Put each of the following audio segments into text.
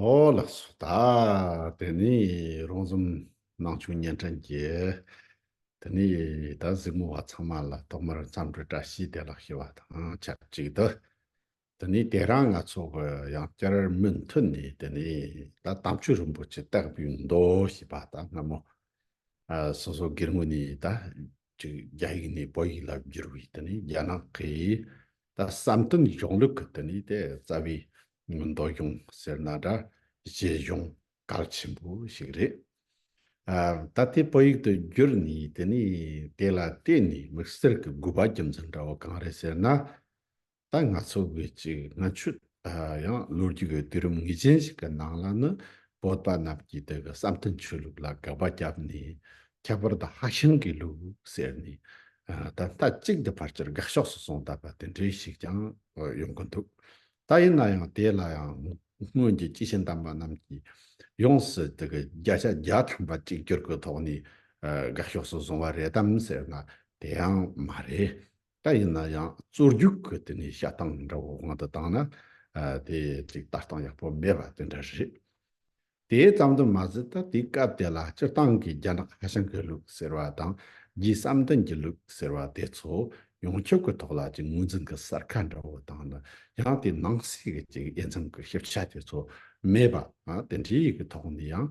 ཨོ་ལ་སོ་ད། དེ་ནས་རོང་ཟོམ་ནང་ཆུང་གཉན་ཕྲན་གྱིས། དེ་ནས་ད་གཟིགས་མོ་བ་ཚང་མ་ལ་ཐོག་མར་མཚམས་འདྲི་བཀྲ་ཤིས་བདེ་ལགས་ཞུ་བ་དང་ཆབས་ཅིག་ཏུ། དེ་ནས་དེ་རང་ང་ཚོ་གི་ཡང་བསྐྱར་མུ་མཐུད་ནས་དེ་ནས་ད་དམ་ཆོས་རིན་པོ་ཆེ་སྟེགས་བུའི་མདོ་ཞེས་པ་ད་སྔ་མོ། སོ་སོ་སྒེར་ངོས་ནས་ད་གཅིག་རྒྱ་ཡིག་ནས་བོད་ཡིག་ལ་བསྒྱུར་བའི་རྒྱ་ནག་གི་བསམ་དོན་གཞུང་ལུགས་གི་རྩ་བའི་མདོ་གཞུང་ཟེར་ན་འདྲ་བྱེད་གཞུང་གལ་ཆེན་པོ་ཞིག་རེད། ད་ལྟའི་བོད་ཡིག་ཏུ་བསྒྱུར་ནས་དེ་ལ་བལྟས་ནས་མི་སེར་གྱི་དགོས་པ་རྒྱུ་མཚན་འདྲ་བོ་གང་རེད་ཟེར་ན། ད་ང་ཚོ་བོད་ཀྱི་ལྔ་མཆོད་ཡང་ལོ་རྒྱུས་ཀྱི་དུས་རིམ་ངེས་ཅན་ཞིག་གི་ནང་ལ་ནི་བོད་པ་རྣམས་ཀྱིས་དེ་གི་བསམ་གཏན་ཆོས་ལུགས་ལ་དགག་པ་བརྒྱབ་ནས་ཁྱད་པར་དུ་ཧྭ་ཤང་གི་ལུགས་ཟེར་ནས་ད་ལྟ་གཅིག་འདི་ཕར་ཆེར་དགག་ཕྱོགས་སུ་སོང་གདའ་པ་དེ་འདྲས་ཤིག་ཀྱང་ཡོང་གི་འདུག་ད་ཡིན་ན་ཡང་དེ་ལ་ཡང་སྔོན་གྱི་སྐྱེས་ཆེན་དམ་པ་རྣམས་ཀྱིས་ཡོངས་སུ་དེ་གི་བརྒྱ་ཆ་བརྒྱ་ཐམ་པ་གཅིག་གྱུར་གྱི་ཐོག་ནས་དགག་ཕྱོགས་སུ་བཟུང་བ་རེད་དམ་ཟེར་ན་དེ་ཡང་མ་རེད། ད་ཡིན་ན་ཡང་རྩོད་རྒྱུགས་ཀྱི་དེ་ནས་བཤད་སྟངས་འདྲ་བོ་གང་དུ་བཏང་ན་དེ་ཅིག་ལྟ་སྟངས་ཡག་པོ་མེད་པ་དེ་འདྲ་རེད། དེ་ཙམ་དུ་མ་ཟད་ད་དེའི་སྐབས་དེ་ལ་སྤྱིར་བཏང་གི་རྒྱ་ནག་ཧ་ཤང་གི་ལུགས་ཟེར་བ་དང་རྒྱའི་བསམ་འདུན་གྱི་ལུགས་ཟེར་བ་དེ་ཚོ་ཡོངས་ཁྱབ་ཀྱི་ཐོག་ལ་ཅིག་ངོས་འཛིན་གྱི་གསར་ཁ་འདྲ་བོ་བཏང་ན་ཡང་དེའི་ནང་གསེས་ཀྱི་ཅིག་དབྱེ་མཚམས་ཀྱི་ཤེས་བྱ་དེ་ཚོ་མེད་པ་དེ་འདྲའི་ཡི་གི་ཐོག་ནས་ཡང་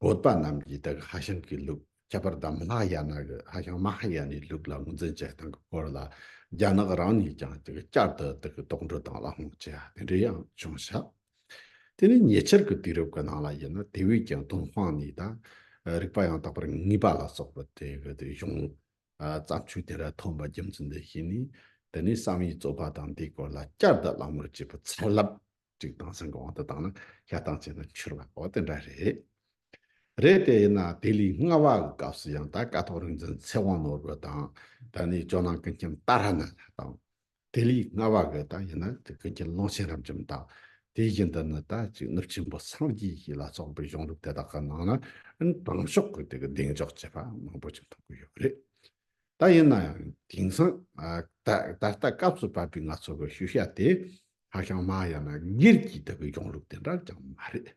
བོད་པ་རྣམས་ཀྱིས་ད་གི་ཧ་ཤང་གི་ལུགས་ཁྱད་པར་དམ་ལྷ་ཡ་ན་གི་ཧ་ཤང་མ་ཧ་ཡ་ནའི་ལུགས་ལ་ངོས་འཛིན་བྱེད་སྟངས་ཀྱི་སྐོར་ལ་རྒྱ་ནག་རང་ནས་ཀྱང་ད་གི་བསྐྱར་དུ་ད་གི་དོགས་འདྲི་དང་བླ་སྔོག་བྱེད་ཡ་དེ་འདྲ་ཡང་བྱུང་ཞག་དེ་ནི་ཉེ་ཆར་གི་དུས་རབས་ཀྱི་ནང་ལ་ཡིན་ན་དེ་བས་ཀྱང་དོན་དཔང་ནས་ད་རིག་པ་ཡང་དག་པར་ངེས་པ་ལ་སོགས་པ་དེ་གི་དེ་གཞུང་བརྩམས་ཆོས་དེ་འདྲ་ཐོན་པ་རྒྱུ་མཚན་དེ་ཤེས་ནས་དེ་ནས་བསམ་ཡས་རྩོད་པ་དང་དེའི་སྐོར་ལ་བསྐྱར་དུ་བླ་སྔོག་བྱེད་པའི་ཚ་རླབས་གཅིག་དང་སེམས་ཀྱི་དབང་དུ་བཏང་ན་ཤ་སྟག་བྱས་ན་འཆོལ་བ་པོ་དེ་འདྲ་རེད། རེད་དེ་ཡིན་ན་དེ་ལས་སྔ་བ་གི་སྐབས་སུ་ཡང་ད་སྐ་ཐོག་རིག་འཛིན་ཚེ་དབང་ནོར་བུ་དང་ད་ནི་ཇོ་ནང་ཀུན་མཁྱེན་ཏཱ་ར་ནཱ་ཐ་དང། དེ་ལས་སྔ་བ་གི་ད་ཡིན་ན་དེ་ཀུན་མཁྱེན་ཀློང་ཆེན་རབ་འབྱམས་དང། དེ་བཞིན་དུ་ནི་ད་ཅིག་ནུབ་ཆེན་པོ་སངས་རྒྱས་ཞིག་ལ་སོགས་པའི་གཞུང་ལུགས་དེ་དག་གི་ནང་ན་ཨིན་ཏང་ཕྱོགས་ཀྱི་དེ་གི་གདེང་འཇོག་བྱས་པ་མང་པོ་ཞིག་མཐོང་གི་ཡོད་རེད། ད་ཡིན་ན་ཡང་དེང་སང་ད་ད་ལྟ་སྐབས་སུ་བབས་པའི་ང་ཚོ་གི་ཤུལ་བཞག་དེ་ཧཱ་ཤང་མ་ཧཱ་ཡ་ན་གིར་གྱི་ལྟ་བུའི་གཞུང་ལུགས་དེ་འདྲ་ཅང་མ་རེད།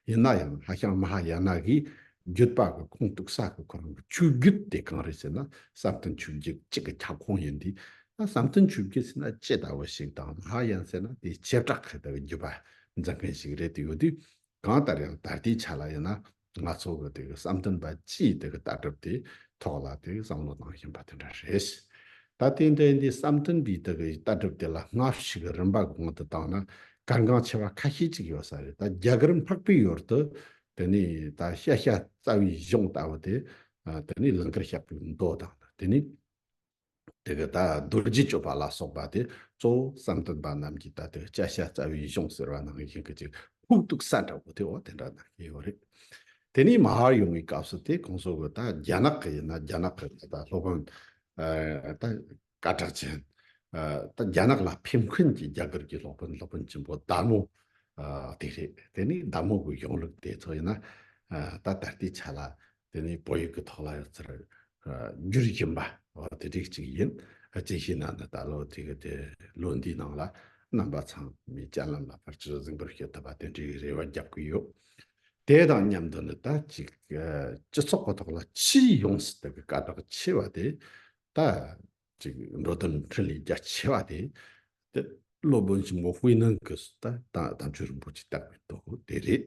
ཡིན་ན་ཡང་ཧཱ་ཤང་མ་ཧཱ་ཡ་ན་གིས་རྒྱུད་པ་གི་ཁུངས་གཏུགས་ས་གི་གོ་རིམ་གྱི་ཆོས་བརྒྱུད་དེ་གང་རེད་ཟེར་ན་བསམ་གཏན་ཆོས་བརྒྱུད་གཅིག་གི་ཁྱབ་ཁོངས་ཡིན་དུས་ད་བསམ་གཏན་ཆོས་བརྒྱུད་ཟེར་ན་ཅི་ལྟ་བུ་ཞིག་དང་མ་ཧཱ་ཡ་ན་ཟེར་ན་དེའི་བྱེ་བྲག་གི་ལྟ་བའི་རྒྱུད་པ་འཛིན་མཁན་ཞིག་རེད་དུ་ཡོད་དུས་གང་ལྟར་ཡང་ད་ལྟའི་ཆ་ལ་ཡིན་ན་ང་ཚོ་གི་དེ་གི་བསམ་འདུན་པ་སྤྱིའི་དེ་གི་ལྟ་གྲུབ་དེ་ཐོག་ལ་དེ་བསམ་བློ་གཏང་བཞིན་པ་དེ་འདྲ་རེད། ད་ལྟའི་འདྲའི་འདི་བསམ་འདུན་པའི་དེ་གི་ལྟ་གྲུབ་དེ་ལ་སྔ་ཕྱིའི་རིམ་པ་གོང་དུ་བཏང་ན་གལ་འགངས་ཆེ་བ་ཁ་ཤས་ཅིག་ཡོད་ས་རེད་ད་རྒྱ་གར་འཕགས་པའི་ཡུལ་དུ་དེ་ནས་ད་ཤ་ཤ་རྩ་བའི་གཞུང་ལྟ་བུ་དེ་དེ་ནས་ལིང་གར་བཤགས་པའི་མདོ་དང་དེ་ནས། དེ་ག་ད་རྡོ་རྗེ་སྤྱོད་པ་ལ་སོགས་པ་སྟེ་གཙོ་བོ་བསམ་གཏན་པ་རྣམས་ཀྱི་ད་དེ་བཅའ་བྱ་རྩ་བའི་གཞུང་ཟེར་བ་ནང་བཞིན་གྱི་ཅིག་ཧཱུྃ་གདུགས་ས་འདྲ་བོ་དེའོ་དེ་འདྲ་ན་ཡོད་རེད། དེ་ནས་མ་ཧཱ་ཡོང་བའི་སྐབས་སུ་དེ་གོང་སོགས་ཀྱི་ད་རྒྱ་ནག་གི་ཡིན་ན་རྒྱ་ནག་གི་ད་སློབ་དཔོན་ད་བཀའ་བྲག་ཅན་ད་རྒྱ་ནག་ལ་ཕེབས་མཁན་གྱི་རྒྱ་གར་གྱི་སློབ་དཔོན་སློབ་དཔོན་ཆེན་པོ་དར་མོ་དེ་རེད་དེ་ནས་དར་མོ་གི་གཞུང་ལུགས་དེ་ཚོ་ཡིན་ན་ད་ད་ལྟའི་ཆ་ལ་དེ་ནི་བོད་ཡིག་གི་ཐོག་ལ་ཡོད་ཚད་འགྱུར་བཞིན་པ་དེ་རིགས་ཅིག་ཡིན། ཅི་ཞིག་ན་ནི་ད་ལོ་དེ་ག་དེ་ལོ་འདིའི་ནང་ལ་རྣམ་པ་ཚང་མའི་སྤྱན་ལམ་ལ་ཕར་ཆེར་གཟིགས་འབུལ་བྱེད་ཐུབ་པ་དེ་འདྲའི་རེ་བ་རྒྱབ་ཀྱི་ཡོད། དེ་དང་མཉམ་དུ་ནི་ད་ཅིག་སྤྱི་ཚོགས་ཀྱི་ཐོག་ལ་ཕྱིའི་ཡོངས་སུ་དག་གི་དཀའ་རྟགས་ཆེ་བ་དེ་ད་ཅིག་འགྲོ་དོན་ཕྲིན་ལས་རྒྱ་ཆེ་བ་དེ། སློབ་དཔོན་ཆེན་པོ་ཧུའེ་ནན་གྱིས་དམ་ཆོས་རིན་པོ་ཆེ་བཏགས་པའི་མདོ་དེ་རེད།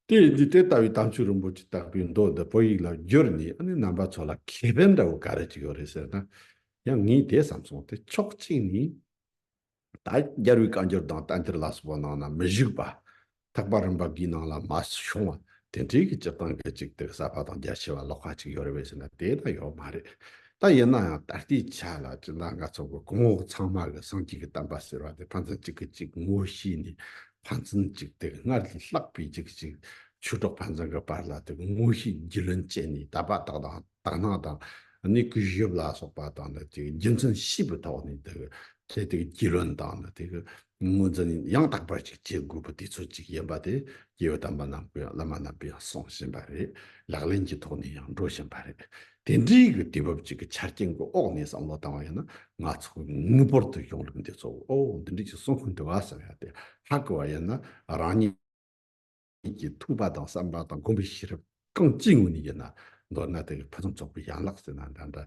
དེ་ཡིན་དུས་དེ་ལྟ་བུའི་དམ་ཆོས་རིན་པོ་ཆེ་བཏགས་པའི་མདོ་འདི་བོད་ཡིག་ལ་བསྒྱུར་ནས་ཨ་ནེ་རྣམ་པ་ཚོ་ལ་ཁེ་ཕན་འདྲ་བོ་ག་རེ་ཅིག་ཡོད་རེད་ཟེར་ན། ཡང་ངས་དེ་བསམ་སོང་སྟེ་ཕྱོགས་གཅིག་ནས། ད་རྒྱལ་བའི་བཀའ་འགྱུར་དང་གཏན་ཐེར་ལ་སོགས་པ་ནང་ན་མི་བཞུགས་པ། ཐེག་པ་རིམ་པ་འགའི་ནང་ལ་མ་བྱུང་བ་དེ་འདྲའི་གི་སྤྱིར་བཏང་གི་ཅིག་ཏིག་གསར་པ་དང་རྒྱ་ཆེ་བ་ལོགས་ཁ་ཅིག་ཡོད་རེད་བས་ཟེར་ན་དེ་ད་ཡོད་མ་རེད། ད་ཡིན་ན་ཡང་ད་ལྟའི་ཆ་ལ་སྤྱིར་བཏང་ག་ཚོགས་པའི་གོང་འོག་ཚང་མ་གི་སངས་རྒྱས་ཀྱི་བསྟན་པ་ཟེར་བ་དེ་ཕན་ཚུན་གཅིག་གི་གཅིག་ངོ་ཤེས་ནས་ཕན་ཚུན་ཅིག་ཏིག་སྔར་ལས་ལྷག་པའི་ཅིག་གཅིག་ཆོས་གྲོགས་ཕན་ཚུན་གི་བར་ལ་དེ་ངོ་ཤེས་རྒྱུས་ལོན་བྱས་ནས་དད་པ་དག་དང། དག་སྣང་དང་ནི་གུས་ཞབས་ལ་སོགས་པ་དང་ནི་དེ་རྒྱུ་མཚན་བཞི་པོའི་ཐོག་ནས་དེ་དེ་དེ་རྒྱུས་ལོན་དང་ནི་དེ་ངོས་འཛིན་ཡང་དག་པར་ཅིག་བྱེད་དགོས་པ་དེ་ཚོ་ཅིག་ཡིན་པ་དེ་རྒྱལ་བའི་དམ་པ་རྣམས་ཀྱི་བླ་མ་རྣམས་པས་གསུང་བཞིན་པ་རེད་ལག་ལེན་གྱི་ཐོག་ནས་ཡང་འགྲོ་བཞིན་པ་རེད་དེ་འདྲའི་གི་དུས་བབ་ཅིག་གི་ཆ་རྐྱེན་གི་འོག་ནས་བསམ་བློ་བཏང་བ་ཡིན་ན་ང་ཚོ་གི་ངེས་པར་དུ་གཞུང་ལུགས་འདི་ཚོ་འོ་འདི་འདྲའི་ཅིག་གསུང་ཁུངས་འདི་བ་ཟེར་ཡ་དེ་ཧ་གི་བ་ཡིན་ན་རང་ཉིད། ཉིད་ཀྱི་ཐུགས་པ་དང་བསམ་པ་དང་བསྒོམ་པའི་ཤེས་རབ་རྐང་གཅིག་ངང་ཉིད་ཀྱིས་ན་མདོར་ན་དེ་ཕུན་སུམ་ཚོགས་པའི་ཡན་ལག་ཟེར་ན་འདྲ་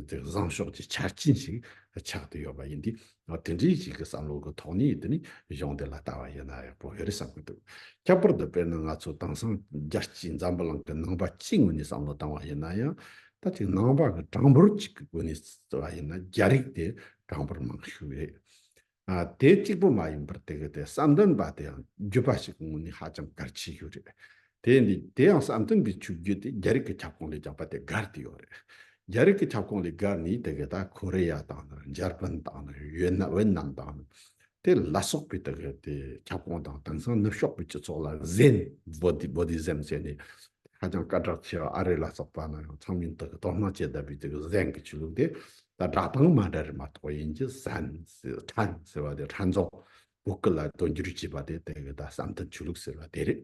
འདྲ་བཟང་ཕྱོགས་ཀྱི་ཆ་རྐྱེན་ཞིག་ཆགས་ཏེ་ཡོད་པ་ཡིན་དུས་དེ་འདྲའི་ཞིག་གི་བསམ་བློ་གི་ཐོག་ནས་དེ་ནས་གཞུང་འདི་ལ་ལྟ་བ་ཡིན་ན་ཡག་པོ་ཡོད་རེད་བསམ་གྱི་འདུག་ཁྱད་པར་དུ་དཔེར་ན་ང་ཚོ་དེང་སང་རྒྱལ་སྤྱིའི་འཛམ་བུ་གླིང་གི་ནང་པ་གཅིག་ངོས་ནས་བསམ་བློ་བཏང་བ་ཡིན་ན་ཡང་ད་ཅིག་ནང་པ་གི་གྲངས་འབོར་གཅིག་གི་སྒོ་ནས་བརྩི་བ་ཡིན་ན་རྒྱ་རིགས་དེ་གྲངས་འབོར་མང་ཤོས་རེད། དེ་གཅིག་པོ་མ་ཡིན་པར་དེ་གའི་དེ་བསམ་འདུན་པ་དེ་ཡང་བརྒྱུད་པ་ཞིག་ངོས་ནས་ཧ་ཅང་གལ་ཆེ་ཡོད་རེད། དེ་འདི་དེ་ཡང་བསམ་འདུན་པའི་ཆོས་བརྒྱུད་དེ་རྒྱ་རིགས་ཀྱི་ཁྱབ་ཁོངས་ལས་རྒྱག་པ་དེ་སྒར་དུ་ཡོད་རེད། རྒྱ་རིགས་ཀྱི་ཁྱབ་ཁོངས་ལས་སྒར་ནི་དེ་གའི་ད་ཁོ་རེ་ཡ་དང་ནི་འཇར་པན་དང་ནི་ཝེ་ན་ཝེ་ནམ་དང་ནི་དེ་ལ་སོགས་པའི་དེ་གའི་དེ་ཁྱབ་ཁོངས་དང་དེང་སང་ནུབ་ཕྱོགས་པའི་སྤྱི་ཚོགས་ལ Zen Bodhi Bodhism ཟེར་ནས་དེ་ཧ་ཅང་སྐད་གྲགས་ཆེ་བ་ཨ་རི་ལ་སོགས་པ་ན་ཡང་ཚང་མིན་དེ་གའི་དོ་སྣང་བྱེད་བདེ་བའི་དེ་གའི Zen གྱི་ཆོས་ལུགས་དེ་ད་གྲགས་དང་མ་འདྲ་རེད་མ་གཏོགས་ཡིན་གྱི་ཟན། ཁྲན་ཟེར་བ་དེ་ཁྲན་རྫོང་བོད་སྐད་ལ་དོན་སྒྱུར་བྱས་པ་དེ་དེ་གི་ད་བསམ་དོན་ཆོས་ལུགས་ཟེར་བ་དེ་རེད།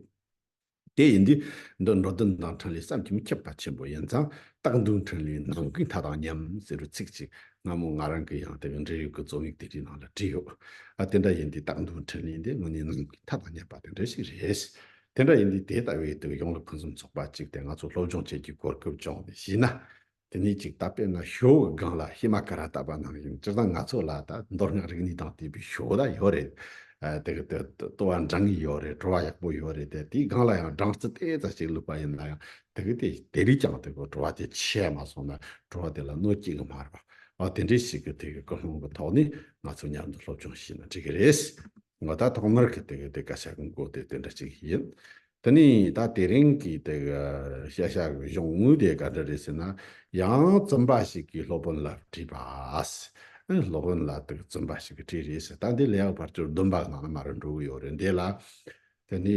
དེ་ཡིན་དུས་འདི་འགྲོ་དོན་དང་ཕྲན་ལས་བསམ་གྱི་མི་ཁྱབ་པ་ཆེན་པོ་ཡིན་ཙང་སྟག་མདུང་ཕྲན་ལས་ནང་གི་མཐའ་དང་མཉམ་ཟེར་བའི་ཚིག་ཅིག་སྔ་མོ་ང་རང་གི་ཡང་དེ་གི་འབྲེལ་ཡོད་ཀྱི་རྩོམ་ཡིག་དེ་འདྲའི་ནང་ལ་བྲིས་ཡོད། ཨ་དེ་འདྲ་ཡིན་དུས་སྟག་མདུང་ཕྲན་ལས་འདི་དངོས་གནས་ནང་གི་མཐའ་དང་མཉམ་པ་དེ་འདྲ་ཞིག་རེད། དེ་འདྲ་ཡིན་དུས་དེ་ལྟ་བུའི་དུས་ཡོངས་ལ་ཕུན་སུམ་ཚོགས་པ་ཅིག་དེ་ང་ཚོ་སློབ་སྦྱོང་བྱེད་རྒྱུའི་གོ་སྐབས་བྱུང་ནས་ཤི་ན། དེ་ནས་ཅིག་ད་པེ་ན་ཞོའོ་གི་སྒང་ལ་ཧི་མ་ཀ་ར་ད་པ་ནང་བཞིན་སྤྱིར་བཏང་ང་ཚོ་ལ་ད་མདོར་སྔགས་རིག་གནས་དང་བསྟུན་པའི་ཞོའོ་ད་ཡོད་རེད། དེ་གི་དེ་ལྟོ་བ་འདྲ་ངེས་ཡོད་རེད་བྲོ་བ་ཡག་པོ་ཡོད་རེད་དེ་དེའི་སྒང་ལ་ཡང་སྦྲང་རྩི་དེ་ཙ་ཅིག་བླུགས་པ་ཡིན་ན་ཡང་དེ་གི་དེ་དེ་རིགས་ཀྱང་དེ་གི་བྲོ་བ་དེ་ཆད་མ་སོང་ན་བྲོ་བ་དེ་ལ་གནོད་སྐྱེལ་གི་མ་རེད་པ། འོ་དེ་འདྲའི་ཞིག་གི་དེ་གི་ཀུན་སློང་གི་ཐོག་ནས་ང་ཚོ་མཉམ་དུ་སློབ་སྦྱོང་བྱས་ན་འགྲིག་གི་རེད། ང་ད་ཐོག་མར་གི་དེ་སྐད་ཆ་གི་མགོ་དེ་དེ་འདྲ་ཅིག་ཡིན། དེ་ནི་ད་དེ་རིང་གི་དེ་ག་ཤ་ཤ་གི་གཞུང་དངུལ་དེ་ག་འདྲ་རེད་ཟེར་ན་ཡང་བཙུན་པ་ཞིག་གིས་སློབ་དཔོན་ལ་དྲིས་པ། སློབ་དཔོན་ལ་དེ་ག་བཙུན་པ་ཞིག་གིས་དྲིས་རེད་ཟེར་ད་འདི་ལེགས་པར་ཅོར་བདུན་པ་ངང་ན་མ་རུ་འགྲོ་གི་ཡོད་རེད་འདི་ལ་དེ་ནི།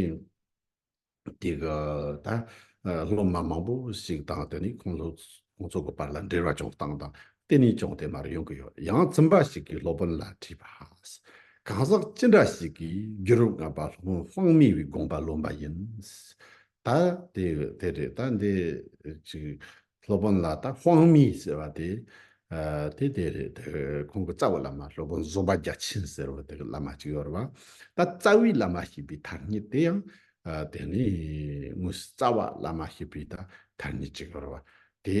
དེ་ག་ད་སློབ་མ་མང་པོ་ཞིག་དང་དེ་ནི་ཁོང་ཚོ་གི་བར་ལ་འབྲེལ་བ་ཅུང་བཏང་དང་གཏན་ནས་ཅུང་དེ་མར་ཡོང་གི་ཡོད་ཡང་རྩོམ་པ་ཞིག་གིས་སློབ་དཔོན་ལ་དྲིས་པ། གང་ཟག་ཅི་འདྲ་ཞིག་གིས་རྒྱུ་རུ་ང་པ་ལྷུང་དཔང་མི་བའི་དགོངས་པ་ལོན་པ་ཡིན། ད་དེ་རེད་ད་འདི་ཅིག་སློབ་དཔོན་ལ་ད་དབང་མི་ཟེར་བ་དེ་དེ་དེ་རེད་ཁོང་གི་རྩ་བའི་བླ་མ་སློབ་དཔོན་བཟོད་པ་རྒྱ་ཆེན་ཟེར་བ་དེ་གི་བླ་མ་གཅིག་ཡོད་རེད་པ་ད་རྩ་བའི་བླ་མ་ཞེས་པའི་ཐ་སྙད་དེ་ཡང་དེ་ནི་དངོས་སུ་རྩ་བ་བླ་མ་ཞེས་པའི་ད་ཐ་སྙད་གཅིག་ཡོད་རེད་པ་དེ་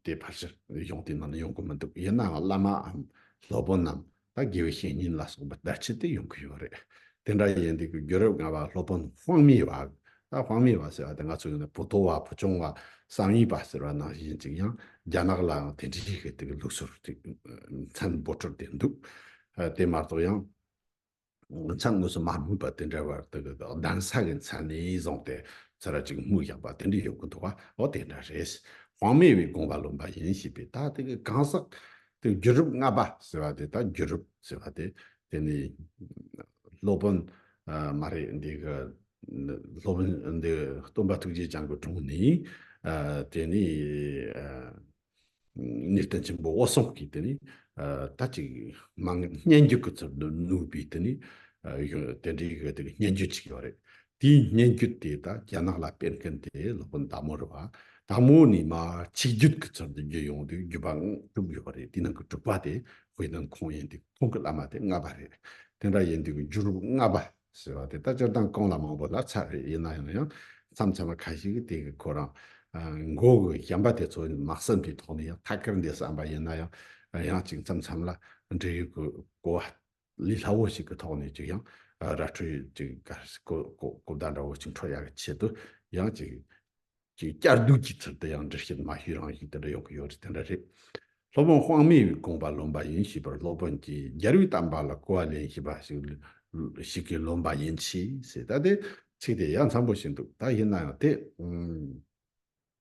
དེ་ཕར་ཕྱིར་ཡོང་དེ་ནང་ལ་ཡོང་གི་མི་འདུག་ཡིན་ནའང་བླ་མའམ་སློབ་དཔོན་ནམ་ད་དགེ་བའི་བཤེས་གཉེན་ལ་སོགས་པ་བརྡ་ཆད་དེ་ཡོང་གི་ཡོད་རེད། དེ་འདྲ་ཡིན་དུས་ཀྱི་རྒྱུ་རབས་སྔ་བ་སློབ་དཔོན་དབང་མེད་བ། ད་དབང་མེད་བ་ཟེར་བ་དེ་ང་ཚོ་ཡིན་ན་བུ་ཐོ་བ་བུ་ཆུང་བ་བསམ་ཡས་པ་ཟེར་བ་ནང་བཞིན་ཅིག་ཡང་རྒྱ་ནག་ལའང་དེ་འདྲའི་ཞིག་གི་ལུགས་སྲོལ་ཅིག་མཚན་འབོར་འཕྲོད་དེ་འདུག་དེ་མ་གཏོགས་ཡང་མཚན་དངོས་སུ་མ་སྨོས་པར་དེ་འདྲའི་བར་དུ་གདན་ས་གི་མཚན་ནས་བཟུང་སྟེ་ཚེ་རབས་གཅིག་སྨུག་བཞག་པ་དེ་འདྲ་ཡོད་ཀྱི་འདུག་བ་འོ་དེ་འདྲ་རེད། དབང་མེད་བའི་དགོངས་པ་ལོན་པ་ཡིན་ཞེས་པའི་ད་དེ་གི་གང་ཟག་དེ་བརྒྱུད་རིམ་ལྔ་པ་ཟེར་བ་དེ་དང་བརྒྱུད་རིམ་ཟེར་བ་དེ་དེ་ནི་སློབ་དཔོན་མ་རེད་འདི་གི་སློབ་དཔོན་འདི་སྟོན་པ་ཐུགས་རྗེ་ཅང་གི་དྲུང་ནས་དེ་ནི་ནི་བསྟན་ཆེན་པོ་དབོ་སོང་གིས་དེ་ནི་ད་ཅིག་མང་སྙན་བརྒྱུད་གི་ཚུལ་དུ་བསྣུབས་པའི་དེ་ནི་དེ་འདྲའི་གི་སྙན་བརྒྱུད་ཅིག་ཡོད་རེད་དེའི་སྙན་བརྒྱུད་དེ་དག་རྒྱ་ནག་ལ་སྤེལ་མཁན་དེ་ལྷ་དཔོན་དག་མོ་རེད་བ། དག་མོ་ནི་མ་ཆིག་བརྒྱུད་ཀྱི་ཚུལ་དུ་རྒྱུད་ཡོངས་དུས་བརྒྱུད་པའང་གྲུབ་ཡོད་བ་རེད་དེའི་ནང་གི་དྲུག་པ་དེ་བྷི་ནང་ཁོང་ཡིན་དུས་ཁོང་གི་བླ་མ་དེ་ལྔ་བ་རེད། དེ་འདྲ་ཡིན་དུས་ཀྱི་བརྒྱུད་རུབ་ལྔ་བ་ཟེར་བ་དེ་དག་སྤྱིར་བཏང་གང་ལ་མང་བོ་ལ་ཚད་རེད་ཡིན་ན་ཡང་ཡང་མཚམས་མཚམས་མ་ཁ་ཞིག་གིས་དེ་གི་ཁོ་རང་མགོ་གི་བྱམས་པ་དེ་ཚོ་མ་བསམ་པའི་ཐོག་ནས་ཡང་ཐད་ཀར་འདས་བསམ་པ་ཡིན་ན་ཡང་ཡང་ཅིག་མཚམས་མཚམས་ལ་འབྲེལ་ཡོད་ཀྱི་གོ་བ་ལས་སླ་བོ་ཞིག་གི་ཐོག་ནས་ཀྱང་ར་འཕྲོད་གོ་བརྡ་འདྲ་བོ་ཅིག་འཕྲོད་ཡག་གི་ཆེད་དུ་ཡང་བསྐྱར་ཟློས་ཀྱི་ཚུལ་དུ་ཡང་འདྲི་བཤད་མ་ཞུས་རང་བཞིན་དེ་འདྲ་ཡོང་གི་ཡོད་རེད་དེ་འདྲ་རེད། སློབ་དཔོན་དབང་མེད་པའི་དགོངས་པ་ལོན་པ་ཡིན་ཞེས་པར་སློབ་དཔོན་གྱིས་རྒྱལ་བའི་གཏམ་པ་ལ་གོ་བ་ལེན་ཞེས་པ་ཞིག་གིས་ལོན་པ་ཡིན་ཆེས་ཟེར་ད་ལྟའི་ཚིག་དེ་ཡ་མཚམས་པོ་ཞིག་འདུག་ད་ཡིན་ན་ཡང་དེ་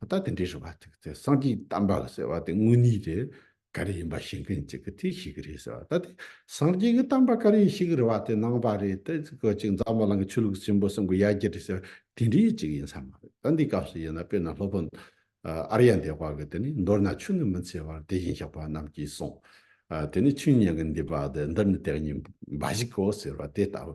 ད་དེ་འདྲའི་རེ་བ་ཅིག་ཟེར་སངས་རྒྱས་གདམས་པ་ལ་ཟེར་བ་དེ་དངོས་གནས་རེ་ག་རེ་ཡིན་པ་ཤེས་མཁན་ཅིག་གིས་དེ་ཤེས་གི་རེད་ཟེར་བ་ད་དེ་སངས་རྒྱས་ཀྱི་གདམས་པ་ག་རེ་ཡིན་ཤེས་གི་རེ་བ་དེ་ནང་པ་རེད་དེ་ཅིག་གོ་ཅིག་འཛམ་བུ་གླིང་གི་ཆོས་ལུགས་ཆེན་པོ་གསུམ་གྱི་ཡ་གྱལ་རེད་ཟེར་བ་དེ་འདྲའི་ཅིག་ཡིན་ས་མ་རེད་ད་འདིའི་སྐབས་སུ་ཡིན་ན་དཔེར་ན་སློབ་དཔོན་ཨ་རི་ཡ་འདས་པ་གིས་དེ་ནི་མདོར་ན་ཆོས་ནི་མི་འཚལ་བར་དེ་བཞིན་གཤེགས་པ་རྣམས་ཀྱིས་གསུངས། དེ་ནི་ཆོས་ཉན་གྱི་འདུས་པ་འདི་འདི་ནི་དེ་གཉིས་འབའ་ཞིག་གོ་ཟེར་བ་དེ་ལྟ་བུ།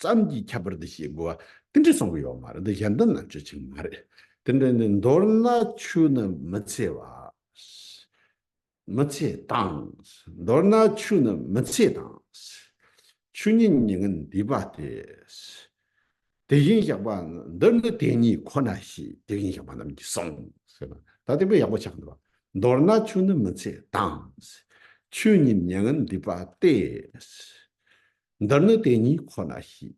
ཙམ་གྱིས་ཁྱབ་པར་འདི་ཞེས་བསྒོ་བ་དེ་འདྲས་གསུང་གི་ཡོད་མ་རེད་འདི་གཞན་དོན་ལ་བརྗོད་ཆེད་མ་རེད་དེ་འདྲས་ནི་མདོར་ན་ཆུ་ནི་མི་འཚེ་བ། མི་ཚེ་དང། མདོར་ན་ཆུ་ནི་མི་ཚེ་དང། ཆུ་ཉིད་ཉིད་ངན་འདུས་པ་སྟེ། དེ་བཞིན་གཤེགས་པ་འདི་ནི་དེ་ཉིད་ཁོ་ན་ཞེས་དེ་བཞིན་གཤེགས་པ་རྣམས་ཀྱིས་གསུངས་ཟེར་ན་ད་དེ་བས་ཡག་པོ་ཆགས་འདུག་མདོར་ན་ཆུ་ནི་མི་ཚེ་དང། ཆུ་ཉིད་ཉན་ངན་འདུས་པ་སྟེ། འདིར་ནི་དེ་ཉིད་ཁོ་ན་ཤེས།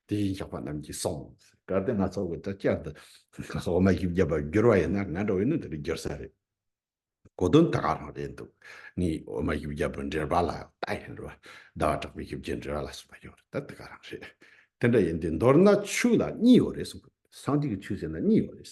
དེ་བཞིན་གཤེགས་པ་རྣམས་ཀྱིས་གསུངས། གལ་ཏེ་སྣ་ཚོགས་ཀྱི་དྲི་བཅས་འདི་སོགས་མ་ཞིག་བརྒྱབ་པར་བསྒྱུར་བ་ཡིན་ན་ང་འདྲ་བས་ནི་འདིར་བསྒྱུར་ས་རེད། གོ་དོན་དེ་ག་རང་རེད་འདུག་ངས་འོ་མ་ཞིག་བརྒྱབ་པའི་འགྲེལ་པ་ལ་ལྟ་ཡིན་རུང། ཟླ་བ་གྲགས་པའི་ཞིབ་ཀྱི་འགྲེལ་བ་ལ་གསུངས་པ་ཡོད་རེད་ད་དེ་ག་རང་རེད། དེ་འདྲ་ཡིན་དུས་མདོར་ན་ཆོས་ལ་གཉིས་ཡོད་རེད་གསུངས། སངས་རྒྱས་ཀྱི་ཆོས་ཟེར་ན་གཉིས་ཡོད་རེད།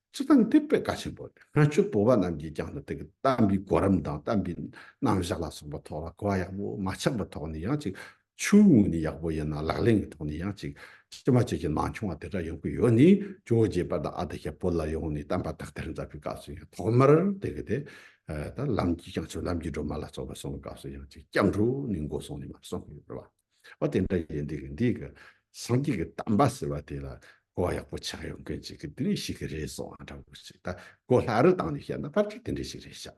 སྤྱི་དང་དེ་དཔེ་བཀའ་ཆེན་པོ་སྔ་ཕྱི་བོད་པ་རྣམས་ཀྱིས་ཀྱང་དེ་གི་བསྟན་པའི་གོ་རིམ་དང་བསྟན་པའི་རྣམ་བཞག་ལ་སོགས་པ་ཐོག་ལ་གོ་བ་ཡག་པོ་མ་ཆག་པའི་ཐོག་ནས་ཡང་ཅིག་ཆུའི་ངོས་ནས་ཡག་པོ་ཡིན་ན་ལག་ལེན་གྱི་ཐོག་ནས་ཡང་ཅིག་ཅི་མ་ཅི་བཞིན་མ་འཁྱོངས་བ་དེ་འདྲ་ཡོང་གི་ཡོད་ནས་ཇོ་རྗེ་པ་དང་ཨ་ཏི་ཤ་བོད་ལ་ཡོང་ནས་བསྟན་པ་དག་ཐེར་མཛད་པའི་སྐབས་སུ་ཡང་ཐོག་མར་དེ་གི་དེ་ལྟར་ལམ་གྱིས་ཀྱང་ཆོག་ལམ་གྱིས་སྒྲོལ་མ་ལ་སྩོལ་བར་སོང་བའི་སྐབས་སུ་ཡང་ཅིག་སྐྱབས་འགྲོ་ནས་འགོ་སོང་ནས་མར་སོང་གི་ཡོད་པར་བ། བ་དེ་འདྲ་ཡིན་འདུག་གི་འདི་གི་སངས་རྒྱས་ཀྱི་གཏམ་པ་ཟེར་བ་དེ་ལ་གོ་བ་ཡག་པོ་ཆགས་ཡོང་མཁན་ཅིག་གི་དེ་འདྲས་ཤིག་གི་རེད་བཟོ་འདྲ་བོ་ཞིག་ད་གོ་ལྷག་རི་བཏང་ནས་བཤད་ན་པར་ཅིག་དེ་འདྲས་ཤིག་རེད་ཤག་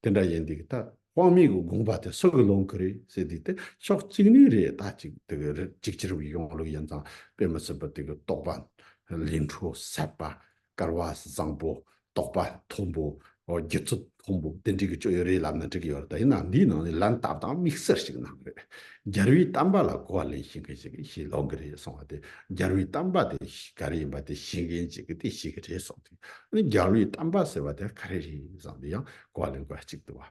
དེ་འདྲ་ཡིན་འདུག་གི་ད་དབང་མེད་གི་དགོངས་པ་དེ་སུ་གི་ལོང་གི་རེད་ཟེར་དུས་དེ་ཕྱོགས་གཅིག་ནས་རེད་ད་ཅིག་དེ་གི་རེད་ཅིག་ཕྱིར་བའི་གཞུང་ལུགས་ཡིན་ཙང་དཔེ་མི་སྲིད་པ་དེ་གི་རྟོགས་པ་ལས་འཕྲོ་ཟད་པ་དཀར་བ་བཟང་པོ། རྟོགས་པ་མཐོན་པོ། རྒྱུད་ཚོད་མཐོན་པོ་དེ་འབྲི་གི་སྤྱོད་ཡུལ་རེད་ལབ་ན་འགྲིག་གི་ཡོད་རེད་ད་ཡིན་ནའང་འདིའི་ནང་ནས་ལན་བཏབ་དང་དམིགས་བསལ་ཞིག་གནང་གི་རེད། རྒྱལ་བུའི་གཏམ་པ་ལ་གོ་བ་ལེན་ཤེས་མཁན་ཞིག་ཞིག་ལོག་གི་རེད་གསུང་བ་དེ་རྒྱལ་བུའི་གཏམ་པ་དེ་ག་རེ་ཡིན་པ་དེ་ཤེས་མཁན་ཅིག་གི་དེ་ཤེས་གི་རེད་གསུང་དེ། ཨ་ནི་རྒྱལ་བུའི་གཏམ་པ་ཟེར་བ་དེ་ག་རེ་རེད་བསམ་དེ་ཡང་གོ་བ་ལེན་དགོས་ཅིག་འདུག་བ།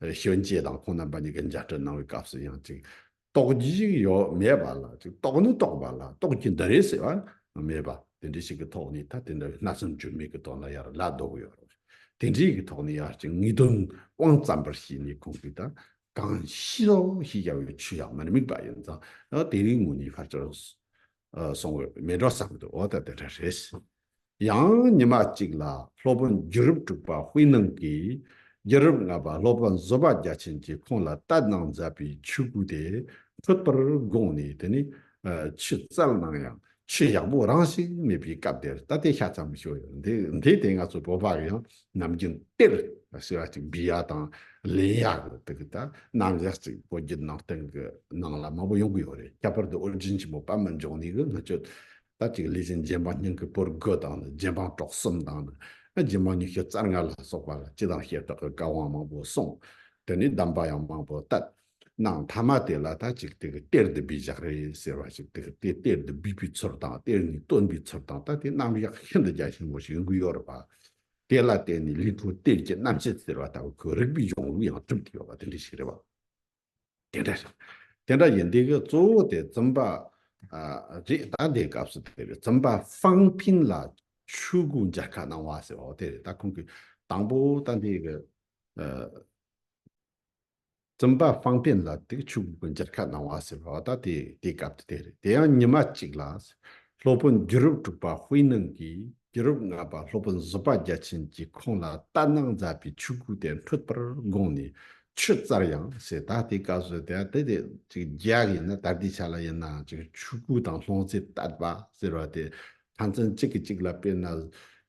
གཞོན་སྐྱེས་དང་ཁོང་རྣམ་པ་གཉིས་ཀྱི་མཇལ་འཕྲད་གནང་བའི་སྐབས་སུ་ཡང་ཅིག་རྟོག་གྱི་ཞིག་ཡོད་མེད་པ་ལ་ཅིག་རྟོག་ནི་རྟོག་པ་ལ་རྟོག་གྱི་འདི་རེད་ཟེར་བ་མེད་པ་དེ་འདྲའི་ཞིག་གི་ཐོག་ནས་ད་དེ་འདྲ་བའི་སྣ་ཚོགས་འགྱུར་མེད་ཀྱི་དོན་ལ་ཡར་ལ་ལྡོག་ཡོད་རེད། དེ་འདྲའི་ཡི་གི་ཐོག་ནས་ཡར་ཅིག་དངོས་དོན་དབང་བཙན་པར་བྱས་ནས་ཁོང་གིས་ད་གང་ཤི་ལོག་ཤི་བྱ་བའི་ཆུ་ཡང་མི་དམིགས་པ་ཡིན་ཙང་དེ་རིང་ངུ་ནས་ཕར་ཆེར་སོང་བས་མི་འགྲོ་བསམ་དུ་འོ་ད་དེ་འདྲ་རེད། ཡང་ཉི་མ་གཅིག་ལ་ལྷོ་དཔོན་རྒྱུད་རབས་དྲུག་པ་དཔེ་སྣང་གིས་རྒྱུད་རབས་ལྔ་པ་ལྷོ་དཔོན་བཟོད་པ་རྒྱ་ཆེན་གྱིས་ཁོང་ལ་ལྟ་གནང་མཛད་པའི་ཆོས་སྐུ་དེ་འཁྲུལ་པར་དགོངས་ནས་དེ་ནི་ཆུ་རྩལ་སྣང་ཡང་ཆུ་ཡག་པོ་རང་བཞིན་མེད་པའི་སྐབས་དེར་ལྟ་དེ་ཤ་ཙམ་ཞུ་འདི་དེ་ང་ཚོ་བོད་པ་ཡང་ནམ་རྒྱུན་གཏེར་ཞེས་པ་ཅིག་འབུལ་ཡ་དང་ལེན་ཡ་གི་དེ་གི་ད་རྣམ་གཞག་ཅིག་བོད་བརྒྱུད་ནང་བསྟན་གི་ནང་ལ་མང་པོ་ཡོང་གི་ཡོད་རེད་ཁྱད་པར་དུ་ཨོ་རྒྱན་ཆེན་པོ་པདྨ་འབྱུང་གནས་གི་ལྷ་ཆོས་ལྟ་ཅིག་ལས་ཅན་རྗེ་འབངས་སྙིང་གི་པོར་དགུ་དང་རྗེ་འབངས་གྲོགས་གསུམ་དང། རྗེ་འབངས་ཉི་ཤུ་རྩ་ལྔ་ལ་སོགས་པ་ལ་སྤྱི་དང་ཞེ་དྲག་གི་བཀའ་དབང་མང་པོ་གསུངས། དེ་ནས་གདམས་པ་ཡང་མང་པོ་བཏབ། ནང་མཐའ་མ་དེ་ལ་ལྟ་ཅིག་དེ་གི་གཏེར་འདི་སྦས་བཞག་རེད་ཟེར་བ་ཞིག་དེ་གི་གཏེར་འདི་སྦས་པའི་ཚུལ་དང་གཏེར་ནི་བཏོན་པའི་ཚུལ་དང་ལྟ་དེ་རྣམ་གཞག་ཤིན་ཏུ་རྒྱ་ཆེན་པོ་ཞིག་འགུལ་ཡོད་རེད་པ། དེ་ལ་བརྟེན་ནས་ལི་ཁྲོའི་གཏེར་གྱི་རྣམ་བཤད་ཟེར་བ་ལྟ་བུ་ཁོའི་རིག་པའི་གཞུང་ལུགས་ཡང་གྲུབ་ཀྱི་ཡོད་པ་དེ་འདྲ་ཞིག་རེད་པ། དེ་འདྲ་རེད། དེ་འདྲ་ཡིན་འདི་གི་གཙོ་བོ་དེ་རྩོམ་པ་རེད་ད་འདི་སྐབས་སུ་དེ་རྩོམ་པ་ཧྥང་ཕིན་ལ་ཆོས་སྐུ་འཇར་ཁ་གནང་བ་ཟེར་བ་དེ་རེད་ད་ཁོང་གི་དང་པོ་ད་འདི་གི་རྩོམ་པ་ཧྥང་ཕིན་ལ་དེ་གི་ཆོས་སྐུ་འཇར་ཁ་གནང་བ་ཟེར་བ་ད་དེ་དེ་སྐབས་དེ་རེད་དེ་ཡང་ཉི་མ་གཅིག་ལ་སློབ་དཔོན་རྒྱུད་རབས་དྲུག་པ་ཧུའེ་ནང་གིས་རྒྱུད་རབས་ལྔ་པ་སློབ་དཔོན་བཟོད་པ་རྒྱ་ཆེན་གྱིས་ཁོང་ལ་ལྟ་གནང་མཛད་པའི་ཆོས་སྐུ་དེ་འཕྲོད་པར་དགོངས་ནས་ཆུ་རྩར་ཡང་ཞེས་ད་ལྟའི་བཀའ་སྲོལ་དེ་དེ་དེ་རྒྱ་ཡིན་ན་ད་ལྟའི་ཆ་ལ་ཡིན་ན་ཆུ་སྐུད་དང་སློང་རྩིས་བསྟར་པ་ཟེར་བ་དེ་ཕན་ཚུན་གཅིག་གིས་གཅིག་ལ་དཔེར་ན་